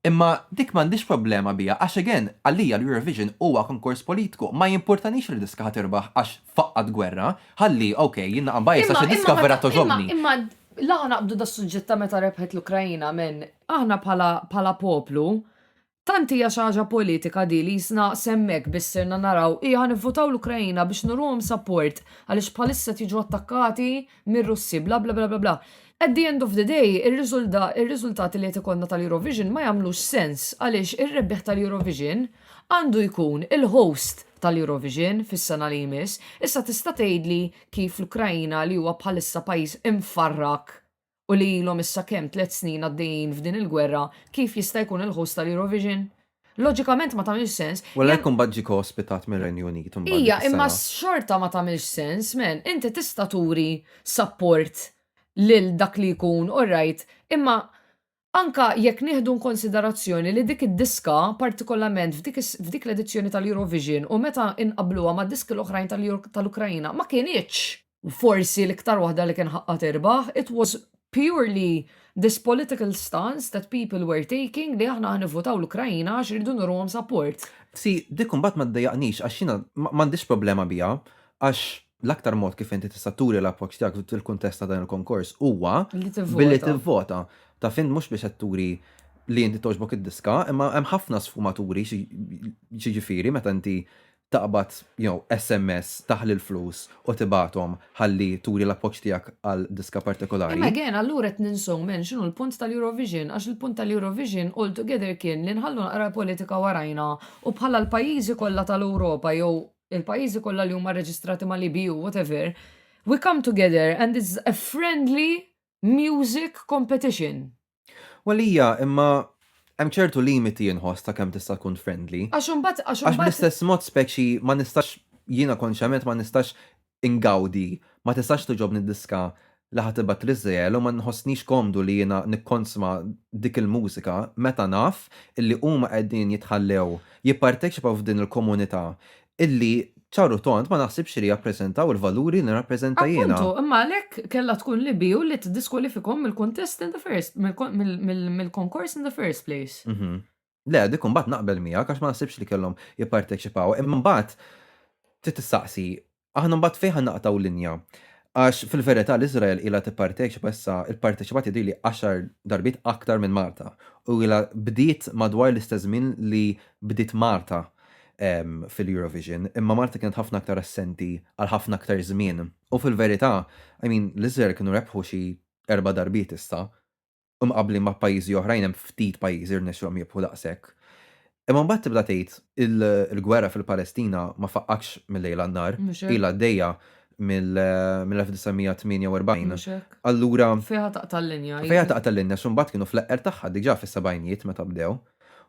Imma dik m'għandix problema biha għax again, għalija l-Eurovision huwa konkors politiku. Ma jimpurtanix li diska ħa tirbaħ għax faqqgħet gwerra. Ħalli, ok, jien naqa' mbajjes għax id-diska ma vera ta- togħġobni. Imma, imma l-aħna qabdu das-suġġett ta' meta rebħet l-Ukrajina minn aħna bħala bħala poplu Tant hija xi ħaġa politika di li jisna s'hemmhekk biss sirna naraw hi ħa nivvutaw l-Ukraina biex nuruhom support għaliex bħalissa qed jiġu attakkati mir-Russi bla bla bla bla bla. At the end of the day ir-riżultati li qed ikollna tal-Eurovision ma jagħmlux sens għaliex ir-rebbieħ tal-Eurovision għandu jkun il-host tal-Eurovision fis-sena li jmiss. Issa tista' tgħidli kif l-Ukraina li huwa bħalissa pajjiż imfarrak u li ilhom issa kemm tliet snin għaddejjin f'din il-gwerra, kif jista' jkun il-host tal-Eurovision? Loġikament ma tagħmilx sens. U għalhekk imbagħad ġie ko-ospitat mir-Renju Unit imbagħad dik is-sena. Ija, imma xorta ma tagħmilx sens, man. Inti tista' turi sapport lil dak li jkun, all right, imma Anke jekk nieħdu inkonsiderazzjoni li dik id-diska, partikolarment f'dik l-edizzjoni tal-Eurovision u meta nqabbluha mad-diski l-oħrajn tal-Ukraina, ma kinitx forsi l-iktar waħda li kien ħaqqha tirbaħ, it was purely this political stance that people were taking li aħna ħa nivvutaw l-Ukraina għax irridu nuruhom support. See, dik imbagħad ma ddejjaqnix għax jiena m'għandix problema biha għax l-aktar mod kif inti tista' turi l-appoġġ tiegħek fil-kuntest ta' dan il-konkors huwa billi tivvota. Ta' fin mhux biex qed turi li inti toġbok id-diska, imma hemm ħafna sfumaturi ġiġifieri meta inti taqbad jew SMS taħli l-flus u tibathom ħalli turi l-appoġġ tiegħek għal diska partikolari. Imma again allura qed ninsew men x'inhu l-punt tal-Eurovision għax il-punt tal-Eurovision altogether kien li nħallu naqra l-politika warajna u bħala l-pajjiżi kollha tal-Ewropa jew il-pajjiżi kollha li huma reġistrati mal-EBU, whatever, we come together and it's a friendly music competition. Well hija, imma hemm ċertu limiti inħoss ta' kemm tista' tkun friendly. Għax imbagħad għax Għax bl-istess mod speċi ma nistax jiena konxjament ma nistax ingawdi, ma tistax togħġobni d-diska li ħa tibgħat l-Iżrael u ma nħossnix komdu li jiena nikkonsma dik il-mużika meta naf illi huma qegħdin jitħallew jipparteċipaw f'din il-komunità illi ċar u tond ma naħsibx li jappreżentaw il-valuri li nirrappreżenta jiena. Appuntu, imma għalhekk kellha tkun l-EBU li tiddiskwalifikhom mill-kuntest in the first, mill-konkors in the first place. Le, dik imbagħad naqbel miegħek għax ma naħsibx li kellhom jipparteċipaw. Imma mbagħad trid tistaqsi, aħna mbagħad fejn ħa naqtgħu linja? Għax fil-verità l-Iżrael ilha tipparteċipa issa pparteċipat jidhirli għaxar darbiet aktar minn Malta u ilha bdiet madwar l-istess żmien li bdiet Malta fil-Eurovision, imma Malta kienet ħafna aktar assenti għal ħafna aktar żmien. U fil-verità, I mean, l-Iżrael kienu rebħu xi erba' darbiet issa Imqabblin ma' pajjiżi oħrajn hemm ftit pajjiżi li rnexxilhom jirbħu daqshekk. Imma mbagħad tibda tgħid il-gwerra fil-Palestina ma faqqatx mil-lejl għan-nhar, ilha għaddejja mill-1948, allura. Fejha taqta' l-linja. Fejha taqta' l-linja għax imbagħad kienu fl-eqqer tagħha diġà fis-sebgħinijiet meta bdew.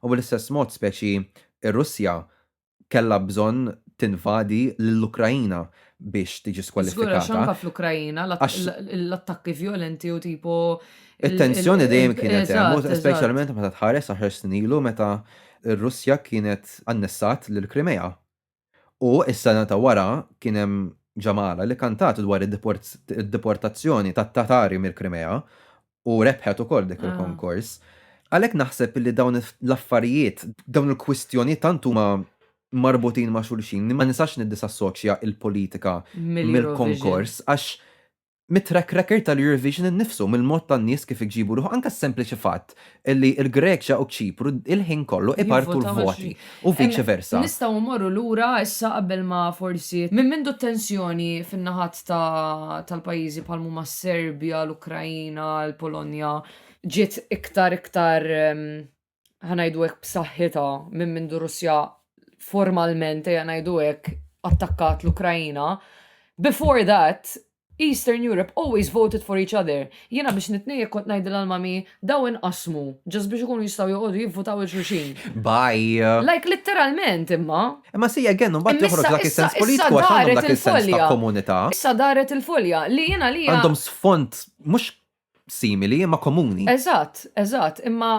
U bl-istess mod speċi r-Russja kellha bżonn tinvadi lill-Ukraina biex tiġi skwalifikata. Żgur għax anke fl-Ukraina l-attakki vjolenti u tipo It-tensjoni dejjem kienet hemm, speċjalment meta tħares għaxar snin ilu meta r-Russja kienet annessat lill-Krimea. U s-sena ta' wara kien hemm ġamgħala li kantat dwar id-deportazzjoni tat-Tatari mill-Krimea u rebħet ukoll dik il-konkors. Għalhekk naħseb li dawn l-affarijiet, dawn il-kwistjoni tant huma marbutin ma' xulxin, ma nisax niddisassoċja il-politika mill-konkors, għax mit-track record tal-Eurovision innifsu, mill-mod tan-nies kif iġibu ruħu, anka sempliċi fatt li l-Greċja u ċipru il-ħin kollu ipartu l-voti. u viċi versa. Nistgħu mmorru lura issa qabel ma forsi, minn mindu t-tensjoni fin-naħat ta' tal-pajjiżi bħal m'huma s-Serbja, l-Ukraina, l-Polonja, ġiet iktar iktar ħa ngħidu hekk b'saħħitha minn mindu r-Russja formalment ejja ngħidu hekk attakkat l-Ukraina, before that Eastern Europe always voted for each other. Jiena biex nitnejjek kont ngħidilha għal Mommy, daw inqassmu, just biex ikunu jistgħu joqogħdu jivvutaw 'il xulxin. Bye. Like literalment imma. Imma see again imbagħad Imma joħroġ issa dak is-sens issa issa politiku għax għandhom daret dak is-sens ta' il-folja. komunità. Issa daret il-folja li jien għalija Għandhom sfond mhux simili imma komuni. Eżatt, eżatt, imma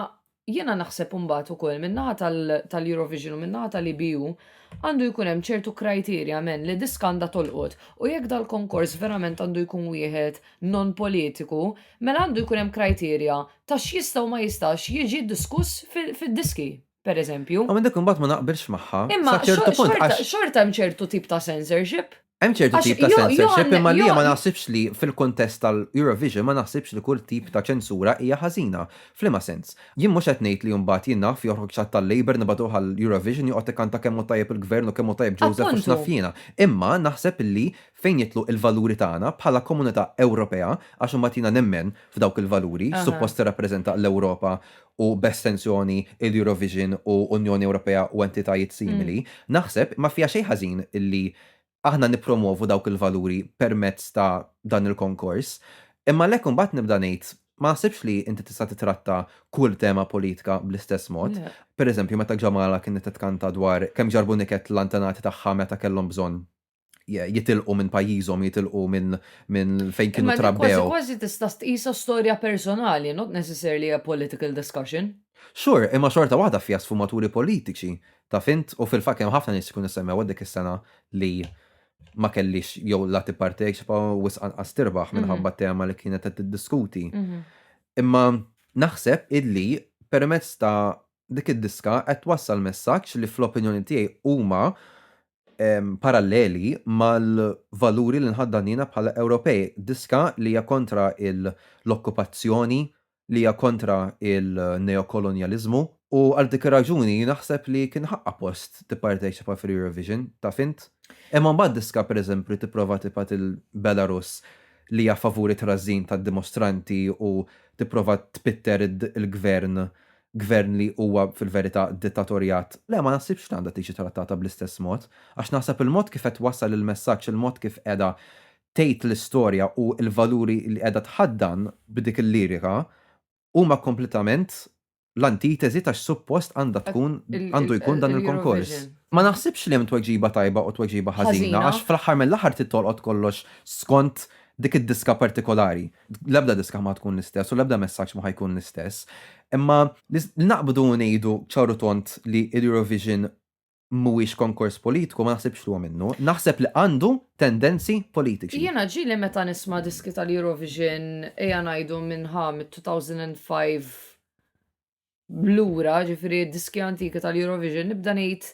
jiena naħseb imbagħad ukoll min-naħa tal-Eurovision u min-naħa tal-EBU għandu jkun hemm ċertu kriterja men li diska għandha tolqot u jekk dal-konkors verament għandu jkun wieħed non-politiku mela għandu jkun hemm kriterja ta' x'jista' u ma jistax jiġi diskuss fid-diski. pereżempju. Imma dik imbagħad ma naqbilx magħha Imma sa xo- ċertu punt xorta, għax xorta hemm ċertu tip ta' censorship. hemm ċertu Għax tip ta' jo, jo censorship għandna, imma jo, li ma naħsibx li fil-kuntest tal-Eurovision ma naħsibx li kull tip ta' ċensura hija ħażina. F'liema sens? Jien mhux qed ngħid li mbagħad jien naf joħroġ ċatt tal-Labour nibagħtuh għall-Eurovision joqgħod ikkanta kemm hu tajjeb il-Gvern u kemm hu tajjeb Joseph u Appuntu. x'naf jiena. Imma naħseb illi fejn jidħlu il-valuri tagħna bħala komunità Ewropea, għax imbagħad jiena nemmen f'dawk il-valuri, Aha. x'suppost tirrappreżenta l-Ewropa u b'estensjoni l-Eurovision u Unjoni Ewropea u entitajiet simili, naħseb ma fiha xejn ħażin li aħna nippromwovu dawk il-valuri permezz ta' dan il-konkors. Imma għalhekk imbagħad nibda ngħid, ma naħsibx li inti tista' titratta kull tema politika bl-istess mod. Pereżempju, meta Jamala kienet qed tkanta dwar kemm ġarbu niket l-antenati tagħha meta kellhom bżonn jitilqu minn pajjiżhom, jitilqu minn min fejn kienu trabbew. Imma kważi kważi tista' tqisha storja personali, not necessarily a political discussion. Sure, imma xorta waħda fiha sfumaturi politiċi, taf int, u fil-fatt kemm ħafna nies ikunu ssemmew dik is-sena li ma kellhiex jew la tipparteċipa u wisq anqas tirbaħ minħabba t-tema li kienet qed tiddiskuti. Imma naħseb illi permezz ta' dik id-diska qed twassal messaġġ li fl-opinjoni tiegħi huma paralleli mal-valuri li nħaddan jiena bħala Ewropej, diska li hija kontra l-okkupazzjoni, li hija kontra l-neokolonjaliżmu. U għal dik ir-raġuni naħseb li kien ħaqqha post tipparteċipa fl-Eurovision, taf int? Imma mbagħad diska pereżempju li tipprova tibgħat il-Belarus li hija favur it-trażżin tad-dimostranti u tipprova tpitter il-gvern Gvern li huwa fil-verità dittatorjat. Le, ma naħsibx li għandha tiġi trattata bl-istess mod, għax naħseb il-mod kif qed twassal il-messaġġ, il-mod kif qiegħda tgħid l-istorja u l-valuri li qiegħda tħaddan b'dik il-lirika huma kompletament l-antiteżi ta' x'suppost għandha tkun, għandu jkun dan il-konkors. Ma naħsibx li hemm tweġiba tajba u tweġiba ħażina għax fl-aħħar mill-aħħar trid tolqot kollox skont Dik id-diska partikolari, l-ebda diska ma tkun l-istess u l-ebda messaġġ ma ħa jkun l-istess, imma li naqbdu u ngħidu ċar u tond li l-Eurovision mhuwiex konkors politiku ma naħsibx li huwa minnu. Naħseb li għandu tendenzi politiċi. Jiena ġieli meta nisma' diski tal-Eurovision, ejja ngħidu minn ħa mit-2005 lura, ġifieri d-diski antiki tal-Eurovision, nibda ngħid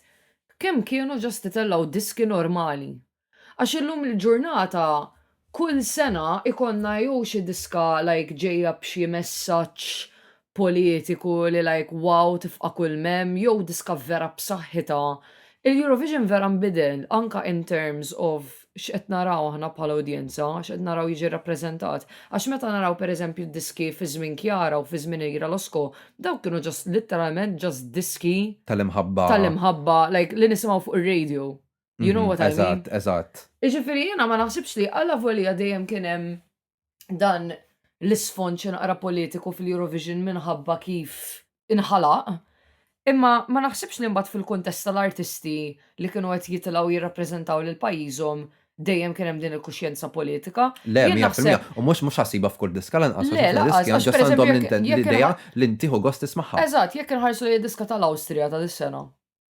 kemm kienu ġast itellgħu diski normali. Għax illum il-ġurnata kull sena ikollna jew xi diska like ġejja b'xi messaġġ politiku li like wow tifqa' kull m'hemm jew diska vera b'saħħitha. Il-Eurovision vera nbidel anke in terms of x'qed naraw aħna bħala udjenza, x'qed naraw jiġi rappreżentat. Għax meta naraw pereżempju d-diski fi żmien Chiara u fi żmien Irina Losco, dawk kienu just literalment just diski. Tal-imħabba. Tal-imħabba, like li nisimgħu fuq ir-radio. You know what I mean? Eżatt, eżatt. Jiġifieri jiena ma naħsibx li allavolja dejjem kien hemm dan l-isfond xi naqra politiku fil-Eurovision minħabba kif inħalaq, imma ma naħsibx li mbagħad fil-kuntest tal-artisti li kienu qed jitilgħu jirrappreżentaw lil pajjiżhom dejjem kien hemm din il-kuxjenza politika. Le, Jien mija naħseb- fil-mija. U mhux mhux ħassiba f'kull diska lanqas Le, għax lanqas, diski għax għandhom pereżempju għandhom jekk- l-inten- jekk l-idea inħa- li ntiħu gost tismagħha. Eżatt, jekk inħarsu lejn id-diska tal-Awstrija ta' dis-sena.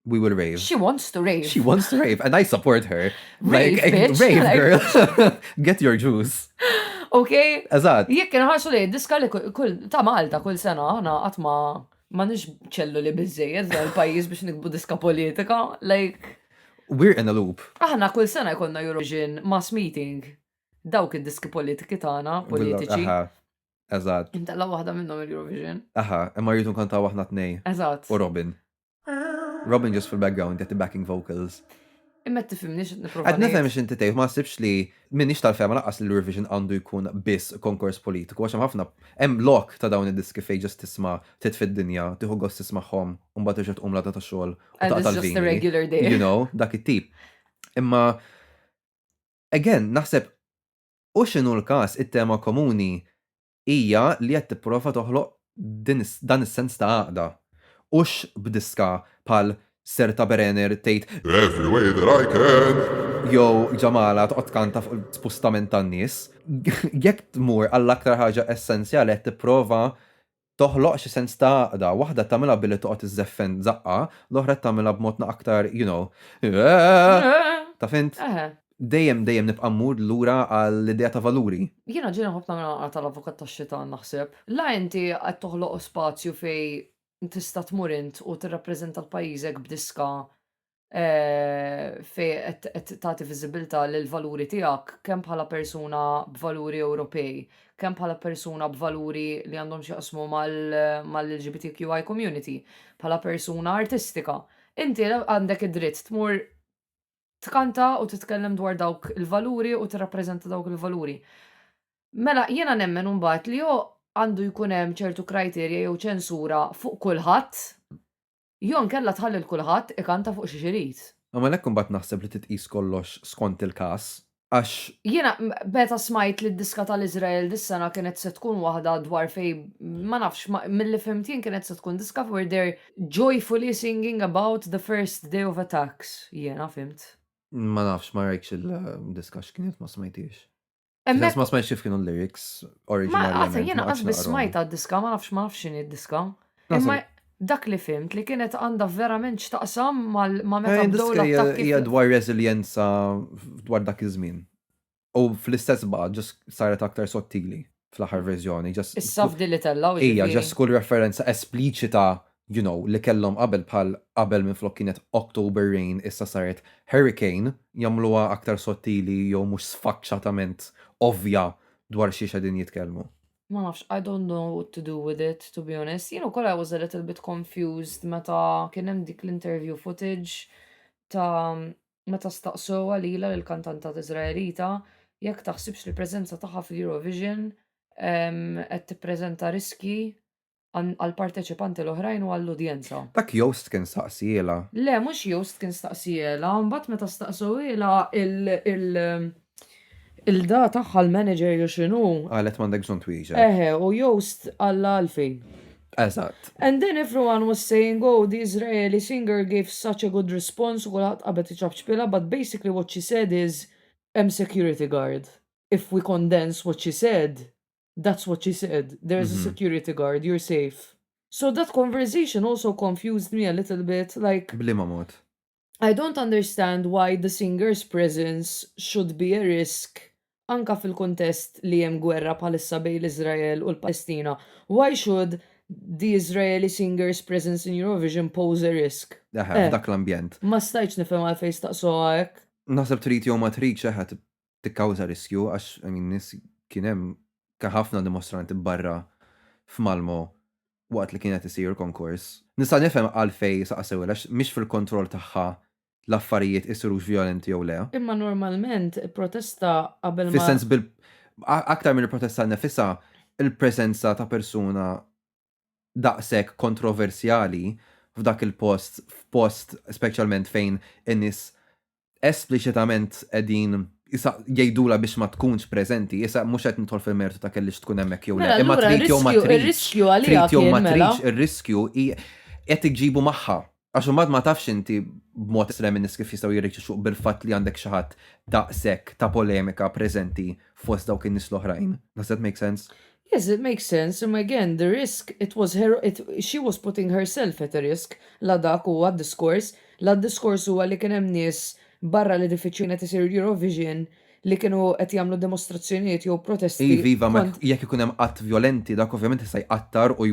we will rave. She wants to rave. She wants to rave, and I support her. Rave, like, bitch. rave, Like- girl. Get your juice. Ok? Eżatt. Jekk nħarsu li diska li kull- kull ta' Malta kull sena aħna qatt ma ma nix ċellu li biżejjed dan il-pajjiż biex nikbu diska politika. Like, We're in a loop. aħna kull sena jkollna Eurovision mass meeting. Dawk id-diski politiki tagħna, politiċi. Aha. Eżatt. Intella waħda minnhom il-Eurovision. Aha, imma rridu nkantaw aħna tnej. Eżatt. U Robin. Robin ġust fil-background jagħti backing vocals. Imma tifhimni x'qed nipprova. Qed nifhem x'inti tgħid, ma nsibx li minix tal-fehma laqqas li l-Eurovision għandu jkun biss konkors politiku għax hemm ħafna hemm lok ta' dawn id-diski fejn ġust tisma' titfi d-dinja, tieħu gost tismagħhom u mbagħad terġa' tqum l-għada ta' xogħol u taqta' l-vini. You know, dak it-tip. Imma again, naħseb u x'inhu l-każ it-tema komuni hija li qed tipprova toħloq dan is-sens ta' għaqda, hux b'diska bħal Serta Berener tgħid, Every way that I can! jew Jamala toqgħod tkanta fuq l-spustament tan-nies. Jekk tmur għall-aktar ħaġa essenzjali qed tipprova toħloq xi sens ta' għaqda, waħda qed tagħmilha billi toqgħod iżżeffen żaqqa, l-oħra qed tagħmilha b'mod aktar, you know, eehh! Taf int? Dejjem, dejjem nibqa' mmur lura għall-idea ta' valuri. Jiena ġieli nħobb nagħmilha naqra tal-avukat tax-xitan naħseb. La inti qed toħloq spazju fejn tista' tmur int u tirrappreżenta l-pajjiżek b'diska fejn qed qed tagħti viżibilità lill-valuri tiegħek kemm bħala persuna b'valuri Ewropej, kemm bħala persuna b'valuri li għandhom x'jaqsmu mal-LGBTQI community, bħala persuna artistika. Inti għandek id-dritt tmur tkanta u titkellem dwar dawk il-valuri u tirrappreżenta dawk il-valuri. Mela jiena nemmen imbagħad li jew għandu jkun hemm ċertu kriterja jew ċensura fuq kulħadd jew inkella tħalli 'l kulħadd ikanta fuq xiex irid. Għalhekk imbagħad naħseb li titqies kollox skont il-każ. għax Jiena m- meta smajt li d-diska tal-Iżrael dis-sena kienet se tkun waħda dwar fejn ma nafx ma- milli fhimt jien kienet se tkun diska where they're joyfully singing about the first day of attacks, jiena fhimt. ma nafx, ma rajtx il-diska x'kienet ma smajthiex. F'xi Hemmhekk- sens ma smajtx kif kienu l-lyrics Ma oriġinarjament. qatt, jiena ma qatx qatt biss naqrahom. smajtha d-diska, ma nafx ma nafx x'inhi d-diska. Imma dak li fhimt li kienet għandha verament x'taqsam ma' meta bdew l-attakki. Hija dwar reżiljenza dwar dak iż-żmien. U fl-istess baqgħet ġas saret aktar sottili fl-aħħar verżjoni. Issa f'din li tellgħu ġifieri. Hija ġas kull referenza espliċita you know li kellhom qabel bħal qabel minflok kienet October Rain issa saret Hurricane jagħmluha aktar sottili jew mhux sfaċċatament ovvja dwar xiex qegħdin jitkellmu. Ma nafx, I don't know what to do with it, to be honest. Jien ukoll I was a little bit confused meta kien hemm dik l-interview footage ta' meta staqsewha lilha lill-kantanta Iżraelita jekk taħsibx li l-preżenza tagħha fil-Eurovision qed tippreżenta riskji għall-parteċipanti l-oħrajn u għall-udjenza. Dak Joost kien staqsielha. Le, mhux Joost kien staqsielha, imbagħad meta staqsewhielha il-da tagħha l-manager jew x'inhu. Qalet m'għandek bżonn twieġeb. Eħe, u Joost qalha għalfejn. Eżatt. And then everyone was saying oh the Israeli singer gave such a good response u kulħadd qabad iċapċpilha but basically what she said is hemm security guard. If we condense what she said, That's what she said. There is a security guard, you're safe. So that conversation also confused me a little bit, like... Blima mod? I don't understand why the singer's presence should be a risk anka fil-kuntest li hemm gwerra bħalissa bejn l-Iżrael u l-Palestina. Why should the Israeli singer's presence in Eurovision pose a risk? Eħe, f'dak l-ambjent. Ma stajtx nifhem għalfejn staqsuha hekk. Naħseb trid jew ma tridx eħe tikkawża riskju għax I mean nies kien hemm kien ħafna dimostranti barra f'Malmö waqt li kien qed isir konkors. Nista' nifhem għalfejn saqsewha għax mhix fil-kontroll tagħha l-affarijiet isirux vjolenti jew le. Imma normalment protesta qabel ma. Fis-sens bil aktar mill-protesta nnifisha, il-preżenza ta' persuna daqshekk kontroversjali f'dak il-post, f'post speċjalment fejn in-nies espliċitament qegħdin jgħidulha biex ma tkunx preżenti, issa mhux qed nidħol fil-mertu ta' kellix tkun hemmhekk jew le, imma trid jew ma tridx, trid jew ma tridx, ir-riskju qed iġġibu magħha, Għax imbagħad ma tafx inti b'mod estrem in-nies kif jistgħu jirreġixxu bil-fatt li għandek xi ħadd daqshekk ta' polemika preżenti fost dawk in-nies l-oħrajn. Does that make sense? Yes, it makes sense, imma again, the risk, it was her, she was putting herself at a risk, la dak huwa d-diskors, la d-diskors huwa li kien hemm nies barra l-edifiċċju fejn qed isir l-Eurovision li kienu qed jagħmlu dimostrazzjonijiet jew protesti Iva, iva, ma kont jekk ikun hemm att vjolenti dak ovvjament jista' jqattar u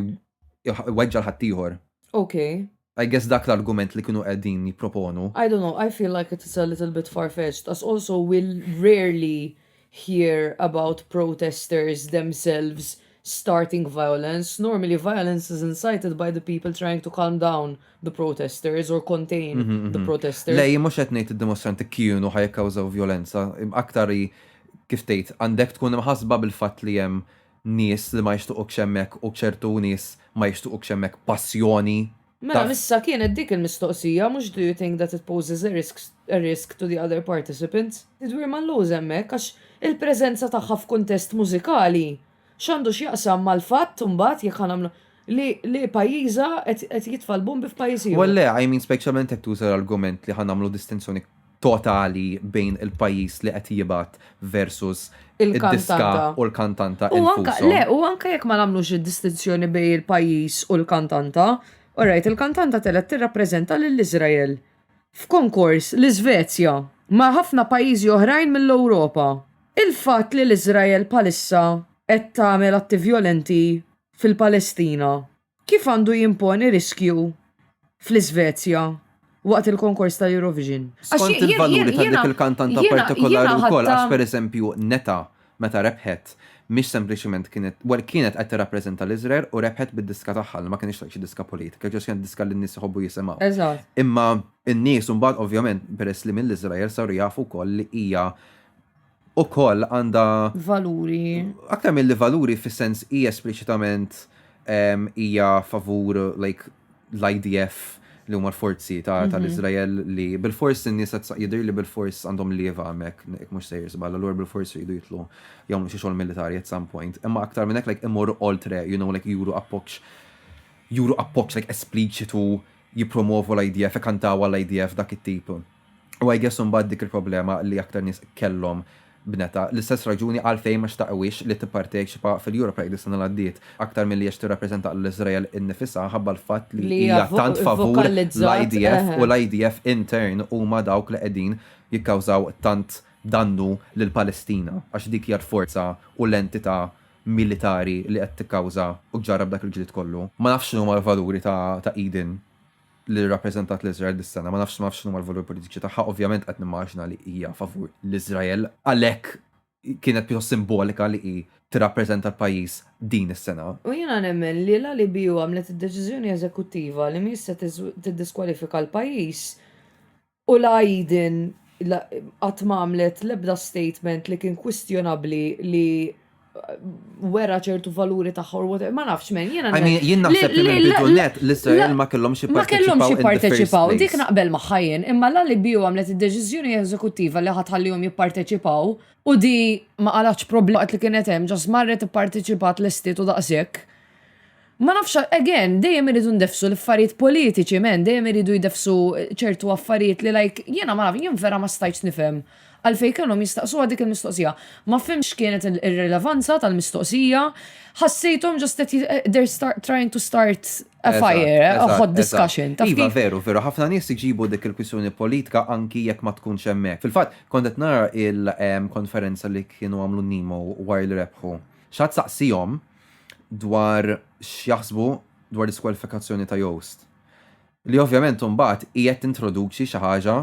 jweġġa' l-ħaddieħor. Okay. I guess dak l-argument li kienu qegħdin jipproponu. I don't know, I feel like it is a little bit far-fetched as also we rarely hear about protesters themselves starting violence, normally violence is incited by the people trying to calm down the protesters or contain the protesters. Le, jien mhux qed ngħid id-dimostranti kienu ħajkkawżaw violenza, aktar hi kif tgħid għandek tkun imħassba bil-fatt li hemm nies li ma jixtuqukx hemmhekk u ċertu nies ma jixtuqukx hemmhekk passjoni Mela missa kienet dik il-mistoqsija mhux do you think that it poses a risk a risk to the other participants? Tidwir ma nlowż hemmhekk għax il-preżenza tagħha f'kuntest mużikali x'għandu x'jaqsam mal-fatt imbagħad jekk ħa nagħmlu li li pajjiżha qed qed jitfa' l-bombi f'pajjiż ieħor. Well le, I mean specjalment jekk tuża l-argument li ħa nagħmlu distinzjoni totali bejn il-pajjiż li qed jibgħat versus id-diska u l-kantanta infushom. Le, u anke jekk ma nagħmlux id-distinzjoni bejn il-pajjiż u l-kantanta, orajt, il-kantanta telgħet tirrappreżenta lil Iżrael f'konkors l-Iżvezja ma' ħafna pajjiżi oħrajn mill-Ewropa. Il-fatt li l-Iżrael bħalissa qed tagħmel atti vjolenti fil-Palestina Kif għandu jimponi riskju fl-Isvezja waqt il-konkors tal-Eurovision? Skont il-valuri ta' dik il-kantanta partikolari wkoll għax pereżempju Netta meta rebħet mhix sempliċiment kienet, well kienet qed tirrappreżenta l-Iżrael u rebħet bid-diska tagħha li ma kinitx xi diska politika, ġast kienet diska li n-nies iħobbu jisimgħu. Imma n-nies imbagħad ovvjament peress li mill-Iżrael saru jafu wkoll li hija ukoll għandha valuri. Aktar milli valuri fis-sens hija espliċitament hija favur like l-IDF li huma l-forzi ta' mhm. tal-Iżrael li bil-fors in-nies jidher li bil-fors għandhom lieva hemmhekk jekk mhux sejr żball, allura bil-fors jridu jitlu jagħmlu xi xogħol militari at some point. Imma aktar minn hekk like imorru oltre, you know, like juru appoġġ juru appoġġ like espliċitu jippromovu l-IDF, kantaw għall-IDF dak it-tip. U I guess imbagħad dik il-problema li aktar nies kellhom bnetha. L-istess raġuni għalfejn ma xtaqwiex li tipparteċipa fil-Europa Park dis-sena li għaddiet, aktar milli għax tirrappreżenta lil Iżrael innifisha minħabba l-fatt li hija tant favur l-IDF u l-IDF in turn huma dawk li qegħdin jikkawżaw tant dannu lill-Palestina għax dik hija l-forza u l-entità militari li qed tikkawża u ġġarrab dak il-ġlied kollu. Ma nafx x'inhuma l-valuri ta' Eden li rrappreżentat lil Iżrael dis-sena, ma nafx ma nafx x'inhuma l-valuri politiċi tagħha, ovvjament qed nimmaġina li hija favur l-Iżrael, għalhekk kienet pjuttost simbolika li hi tirrappreżenta l-pajjiż din is-sena. U jiena nemmen li l-ALBU għamlet id-deċiżjoni eżekuttiva li mhijiex se tiddiskwalifika l-pajjiż U la hi din la qatt ma għamlet l-ebda statement li kien kwistjonabbli li wera ċertu valuri tagħha or whatever, ma nafx men, jiena I mean, jien naħseb li mill-bidu net l-Iżrael ma kellhomx Ma kellhomx jipparteċipaw in the first jipparteċipaw, place. dik naqbel magħha jien, imma la li Bio għamlet id-deċiżjoni eżekuttiva li ħa tħallihom jipparteċipaw u di ma qalgħatx problema waqt li kienet hemm, ġast marret ipparteċipat lestiet u daqshekk. Ma nafx għal, again, dejjem irridu ndeffsu l-affarijiet politiċi, man, dejjem iridu jdeffsu ċertu affarijiet li like, jiena ma nafx, jien vera ma stajtx nifhem għalfejn kellhom jistaqsuha dik il-mistoqsija. Ma fhimtx x'kienet ir-rilevanza tal-mistoqsija, ħassejthom just qed they're start, trying to start a fire, a hot discussion, taf kif. Iva, veru, veru, ħafna nies iġibu dik il-kwistjoni politika anki jekk ma tkunx hemmhekk. Fil-fatt, kont qed nara il-konferenza li kienu għamlu Nemo wara li rebħu. X'għad saqsihom, dwar x'jaħsbu dwar l-iskwalifikazzjoni ta' Joost. Li ovvjament imbagħad qiegħed tintroduċi xi ħaġa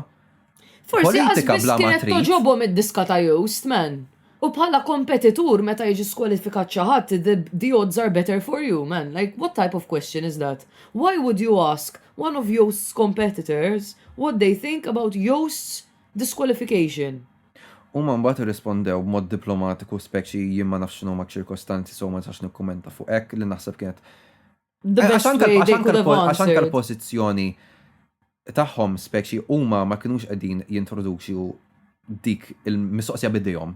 politika bla ma trid. Toġobhom id-diska ta' Joost, man. U bħala kompetitur meta jiġi skwalifikat xi ħadd, the odds are better for you, man. Like, what type of question is that? Why would you ask one of Joost's competitors what they think about Joost's Disqualification. Huma mbagħad irrispondew b'mod diplomatiku speċi jien ma nafx x'inhuma ċ-ċirkostanzi so ma nistax nikkummenta fuq hekk li naħseb kienet Għax anke l-pożizzjoni tagħhom speċi huma ma kinux qegħdin jintroduċu dik il-mistoqsija b'idejhom.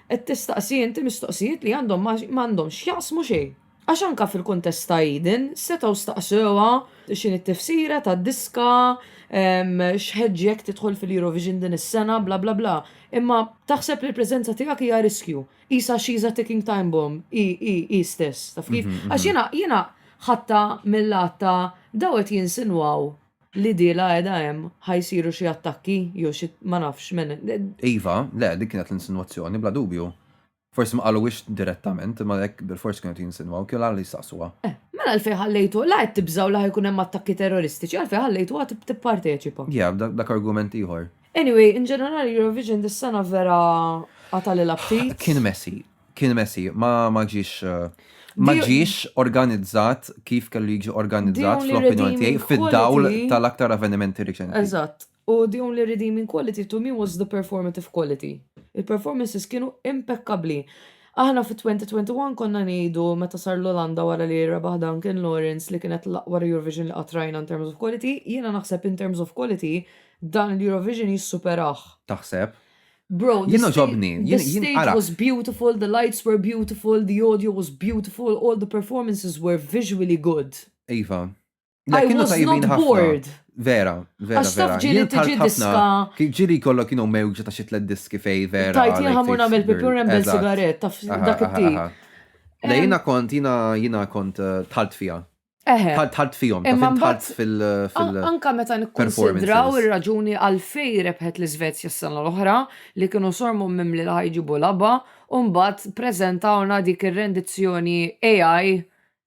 Qed tistaqsi inti mistoqsijiet li għandhom ma għandhom x'jaqsmu xejn. Għax anke fil-kuntest ta' Eden setgħu staqsewha x'inhi t-tifsira tad-diska, x'ħeġġi jekk tidħol fil-Eurovision din is-sena bla bla bla. Imma taħseb li l-preżenza tiegħek hija riskju. Qisha she's a ticking time bomb hi hi hi stess, taf kif? Għax jiena jiena ħadtha mil-lat ta' daw qed jinsinwaw Li dielha qiegħda hemm, ħa jsiru xi attakki jew xi ma nafx minn. Iva, le, dik kienet l-insinwazzjoni, bla dubju. Forsi ma qaluhiex direttament, imma hekk bilfors kienu qed jinsinwaw, kienu l-għala li jistaqsuha. Eh, mela għalfejn ħallejtuha, la qed tibżgħu li ħa jkun hemm attakki terroristiċi, għalfejn ħallejtuha tipparteċipa? Yeah, dak argument ieħor. Anyway, in ġenerali Eurovision dis-sena vera qatagħlilha ftit. Kien messy, Kien messi, ma ma ġiex ma Di- ġiex organizzat kif kellu jiġi organizzat only fl-opinjoni tiegħi redeeming fid-dawl quality- tal-aktar avvenimenti riċenti. Eżatt. U the only redeeming quality to me was the performative quality. Il-performances kienu impekkabbli. Aħna fit-2021 konna ngħidu meta sar l-Olanda wara li rebaħ Duncan Lawrence li kienet l-aqwa Eurovision li qatt rajna in terms of quality, jiena naħseb in terms of quality dan l-Eurovision jissuperah. Taħseb? Bro, the, sta the stage was beautiful, the lights were beautiful, the audio was beautiful, all the performances were visually good. Iva. I was not bored. Vera, vera. Għax taf ġili tiġi diska. Ġili kollok kienu mewġa ta' xitlet diski fej, vera. Tajt jina ħamur namel pipur nembel sigaret, taf dak it-tip. Le jina kont, jina jina kont eh, tħalt fija. Eħe. Tħalt tħalt fihom, ta' Imma fin tħalt mbagħad- fil. fil- An- Anka meta nikkonsidraw performances. ir-raġuni għalfej rebħet l-Iżvezja s-sena l-oħra li kienu sormu mimli li ħajġibu laba u mbagħad preżentawna dik ir-rendizzjoni AI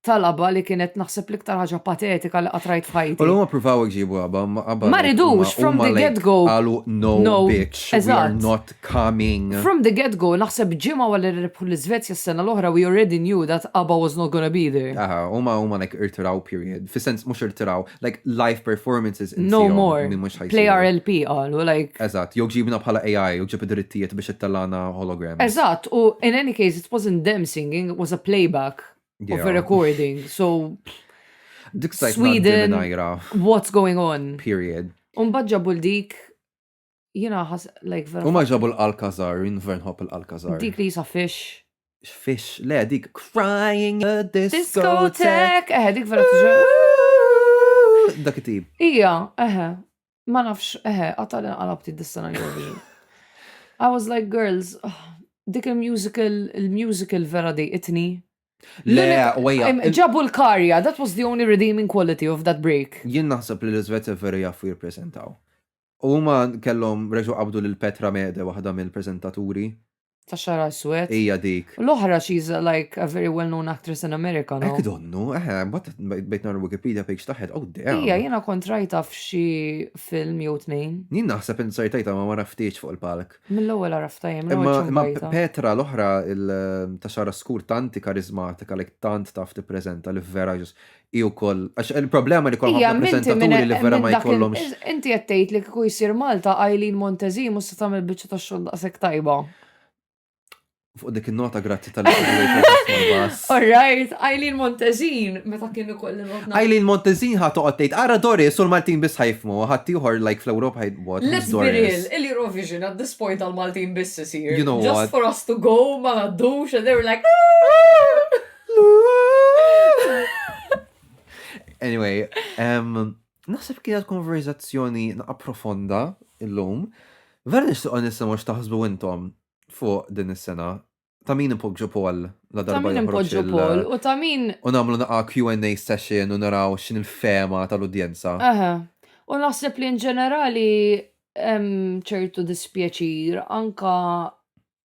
ta' laba li kienet naħseb l-iktar ħaġa patetika li qatt rajt U f'ħajti. l-huma provaw iġibu għaba, ma għaba. Ma ridux, from the get-go. Għalu, no, No, bitch, we are eżatt. not coming. From the get go, naħseb ġimgħa wara li rebħu l-Iżvezja s-sena l-oħra we already knew that Abba was not gonna be there. Aha, huma huma like irtiraw period. Fis-sens mhux irtiraw, like live performances insihom. No more. Li mhux ħajsiru. Play our LP qalu like. Eżatt, jew ġibna bħala AI, jew ġib id-drittijiet biex ittellagħna holograms. Eżatt, u in any case it wasn't them singing, it was a playback yeah. of a recording. So Dik Sweden, what's going on? Period. Unbad ġabu l-dik Jina ħas, like, vera. U ma ġabu l-Alcazar, jien vera nħobb l-Alcazar. Dik li jisa fish. Fish, le, dik crying a discotheque. Eħe, dik vera tuġa. Dak it-tip. Ija, eħe, ma nafx, eħe, għatal għalabti d-distana Eurovision. I was like, girls, ah, dik il-musical, il-musical vera di itni. Le, wejja. Ġabu l-karja, that was the only redeeming quality of that break. Jien naħseb li l-Izvezja vera jaffu jirpresentaw. U huma kellhom reġgħu qabdu lil Petra Mede waħda mill-preżentaturi. Ta' xagħar aswed. Hija dik. U l-oħra she's like a very well known actress in America, no? Hekk donnu, eħe, mbagħad bdejt nara l-Wikipedia page tagħha, oh damn. Hija jiena kont rajtha f'xi film jew tnejn. Jien naħseb int ser tgħidha ma ma raftiex fuq il-palk. Mill-ewwel għaraftha jien, minn Wiċċ Imma Mqajta. Petra l-oħra il- ta' xagħarha skur tant hi kariżmatika like tant taf tippreżenta li vera just hi wkoll għax il-problema li kollha ħafna preżentaturi li vera ma jkollhomx. Inti qed tgħid li kieku jsir Malta Eileen Montezi mhux se tagħmel biċċa ta' xogħol daqshekk tajba. Fuq dik in-nota grazzi tal All right, Eileen Montezin, meta kien ukoll notna. Eileen Montezin ħa toqgħod tgħid, ara Doris u l-Maltin biss ħajfmu, ħadd ieħor like fl-Ewropa ħajt what. Let's be real, il-Eurovision at this point għal-Maltin biss isir. You know what? Just for us to go, ma ngħaddux, and they were like, ah! Anyway, um, naħseb kienet konverzazzjoni naqa profonda illum. Vera nixtieq nisimgħu x'taħsbu intom fuq din is-sena. Ta' min ipoġġu Paul la darba. Ta' min ipoġġu Paul u ta' min. U nagħmlu naqa Q&A session u naraw x'in il-fema tal-udjenza. Aha. U naħseb li in ġenerali ċertu dispjaċir anka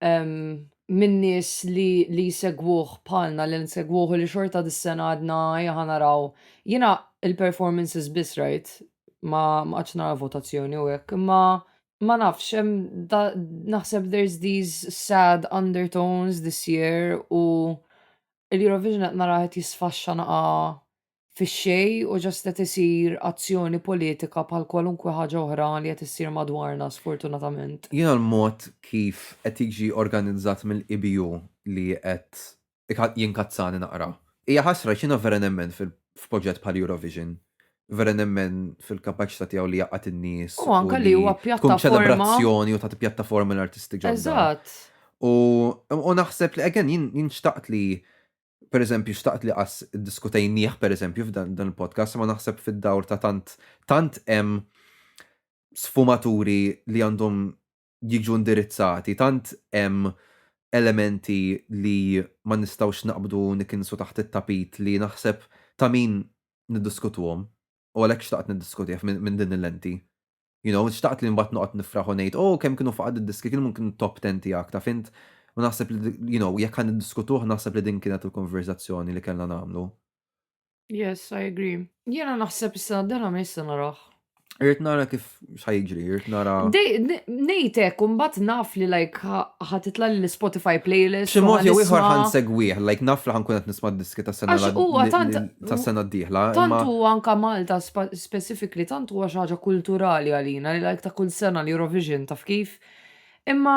minn nies li li jsegwuh bħalna li nsegwuh li xorta dis-sena għadna jaħa naraw. Jiena il-performances biss rajt ma qatx nara votazzjoni u hekk, imma ma nafx hemm naħseb there's these sad undertones this year u l-Eurovision qed naraha qed jisfaxxa naqa' fix-xejn u just qed isir azzjoni politika bħal kwalunkwe ħaġa oħra li qed issir madwarna sfortunatament. Jiena l-mod kif qed jiġi organizzat mill-EBU li qed jinkazzani naqra. Hija ħasra għax jiena vera nemmen f'proġett bħal Eurovision, vera nemmen fil-kapaċità tiegħu li jgħaqqad in-nies u li tkun ċelebrazzjoni u tagħti pjattaforma lill-artisti ġodda. U naħseb li again jien xtaqt li per eżempju, xtaqt li qas diskutejnieh per eżempju f'dan il-podcast, ma naħseb fid-dawr ta' tant tant hemm sfumaturi li għandhom jiġu indirizzati, tant hemm elementi li ma nistgħux naqbdu nikinsu taħt it-tapit li naħseb ta' min niddiskutuhom u għalhekk xtaqt niddiskutih minn din il-lenti. You know, xtaqt li mbagħad noqgħod nifraħ u ngħid, oh, kemm kienu faqad id-diski, kienu minn kienu top ten tiegħek, taf int? U naħseb li, you know, jekk ħa niddiskutuh naħseb li din kienet il-konverżazzjoni li kellna nagħmlu. Yes, I agree. Jiena naħseb is-sena d-dela ma jista' naraħ. Irrit nara kif xajġri, irrit nara. Nejtek, unbat naf li like ħatitla l-Spotify playlist. Ximot jew iħor ħan segwieħ, like naf li ħan kunet nisma diski ta' sena ta' sena d-dihla. Tantu anka Malta specific li tant huwa xi ħaġa kulturali għalina li like ta' kull sena l-Eurovision taf kif? Imma.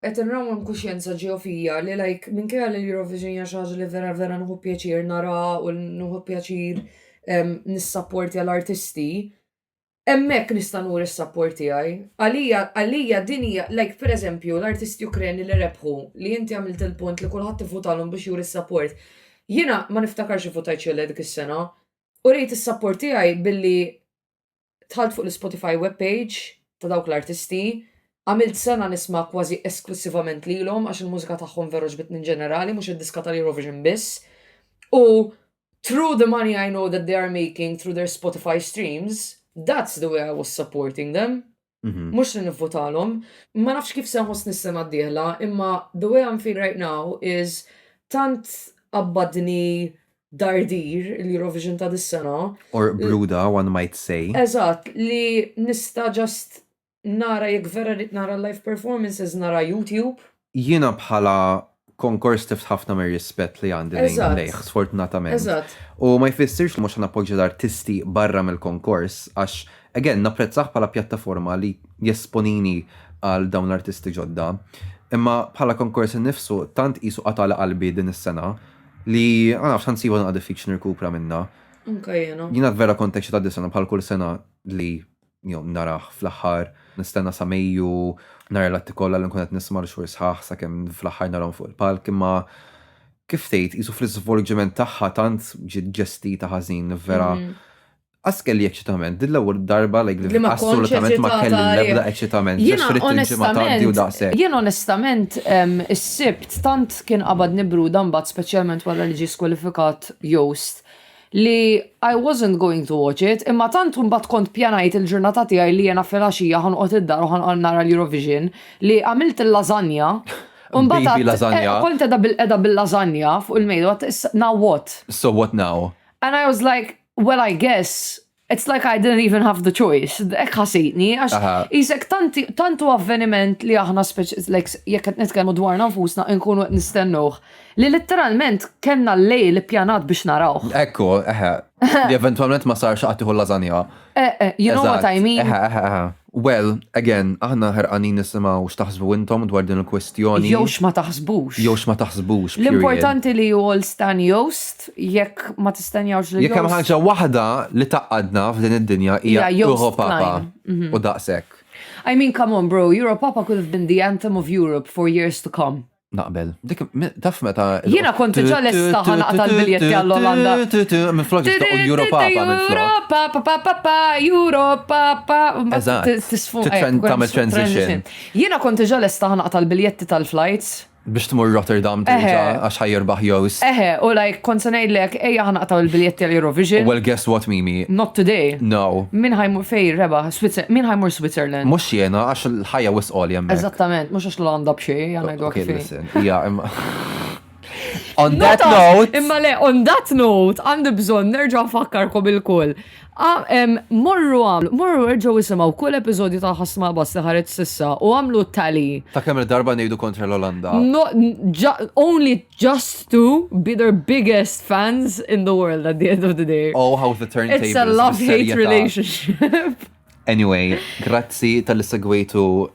Qed inrawwem kuxjenza ġewwa fija li like minkejja li l-Eurovision hija xi ħaġa li vera vera nieħu pjaċir naraha u nieħu pjaċir nissapportja l-artisti, hemmhekk nista' nuri s-sapport tiegħi. Għalija għalija din hija like per eżempju l-artisti Ukreni li rebħu li inti għamilt il-punt li kulħadd ivvutalhom biex juri s-sapport. Jiena ma niftakarx ivvutajt xi le dik is-sena U rejt is-sapport tiegħi billi dħalt fuq l-Spotify webpage ta' dawk l-artisti, għamilt sena nisma' kważi esklussivament lilhom għax il-mużika tagħhom veru ġbitni in ġenerali mhux id-diska tal-Eurovision biss. U through the money I know that they are making through their Spotify streams, that's the way I was supporting them. Mhm. Mhux li nivvotalhom. Ma nafx kif se nħossni s-sena d-dieħla, imma the way I'm feeling right now is tant qabbadni dardir l-Eurovision ta' dis-sena. Or bruda, one might say. Eżatt, li nista' just nara jekk vera rrid nara live performances nara YouTube. jiena bħala konkors tift ħafna mir-rispett li għandi lejn lejh, sfortunatament. U ma jfissirx li mhux nappoġġja l-artisti barra mill-konkors għax again napprezzah bħala pjattaforma li jesponini għal dawn l-artisti ġodda. Imma bħala konkors innifsu tant qisu qatala qalbi din is-sena li ma nafx ħansiba naqgħa diffiċli nirkupra minnha. Anka jiena. Jiena vera kont eċċitat dis-sena bħal kull sena li jew narah fl-aħħar, nistenna sa Mejju nara l-atti kollha li nkun qed nisma' li xhur sħaħ sakemm fl-aħħar narahom fuq il-palk imma kif tgħid qisu fl-iżvolġiment tagħha tant ġiet ġestita ħażin vera Qas kelli eċċitament, din l-ewwel darba like li ma assolutament ma kelli l-ebda eċċitament. Jiena onestament, jiena onestament is-sibt tant kien qabadni bruda mbagħad speċjalment wara li ġie skwalifikat Joost. li I wasn't going to watch it, imma tant mbagħad kont pjanajt il-ġurnata tiegħi li jiena filgħaxija ħanqgħod id-dar u ħanqgħod nara l-Eurovision li għamilt il-lażanja u mbagħad eh, kont edha bil-qeda bil-lażanja fuq il-mejda now what? So what now? And I was like, well I guess It's like I didn't even have the choice. Ek ħasitni, għax jisek tantu avveniment li aħna jek qed nitkellmu dwar nfusna nkunu qed nistennuh. Li letteralment kellna l-lejl pjanat biex narawh. Ekku, eħe. Li eventualment ma sarx qatt tieħu lażanja. Eh, eh, you know what I mean. Eħe, eħe, eħe. Well, again, aħna ħerqanin nisimgħu x'taħsbu intom dwar din il-kwistjoni. Jew x'ma taħsbux. Jew x'ma taħsbux. L-importanti li you all stan Joost, jekk ma tistenjawx lil Joost. Jekk hemm ħaġa waħda li tgħaqqadna f'din id-dinja hija Europapa u daqshekk. I mean come on bro, Europapa could have been the anthem of Europe for years to come. Naqbel. Dik, taf meta. Jina kont ġa lesta ħana tal-biljetti għall-Olanda. Minn flok ġista u Europa pa minn flok. Europa pa pa pa pa, Europa pa. Eżat. Tisfun. Tamil transition. Jina kont ġa lesta ħana tal-biljetti tal-flights. Biex tmur Rotterdam terġa għax ħajirbaħ jowis. Eħe, u lajk kont sanajdlek, eja ħana taw il-biljetti għal-Eurovision. Well, guess what, Mimi? Not today. No. Min ħajmur fej, reba, min ħajmur Switzerland? Mux jena, għax l-ħajja wis għoljem. Eżattament, mux Xla għanda bxie, għana id Okay, listen, ija, imma. On that note. Imma le, on that note, għandi bżon nerġa' fakkarkom il-kull. Morru għamlu, morru erġaw jisimaw kull episodju ta' ħasma bas li ħareġ sissa u għamlu tali. Ta' kemm darba nejdu kontra l-Olanda. No, only just to be their biggest fans in the world at the end of the day. Oh, how the turntables. It's a love-hate relationship. Anyway, grazzi tal-segwejtu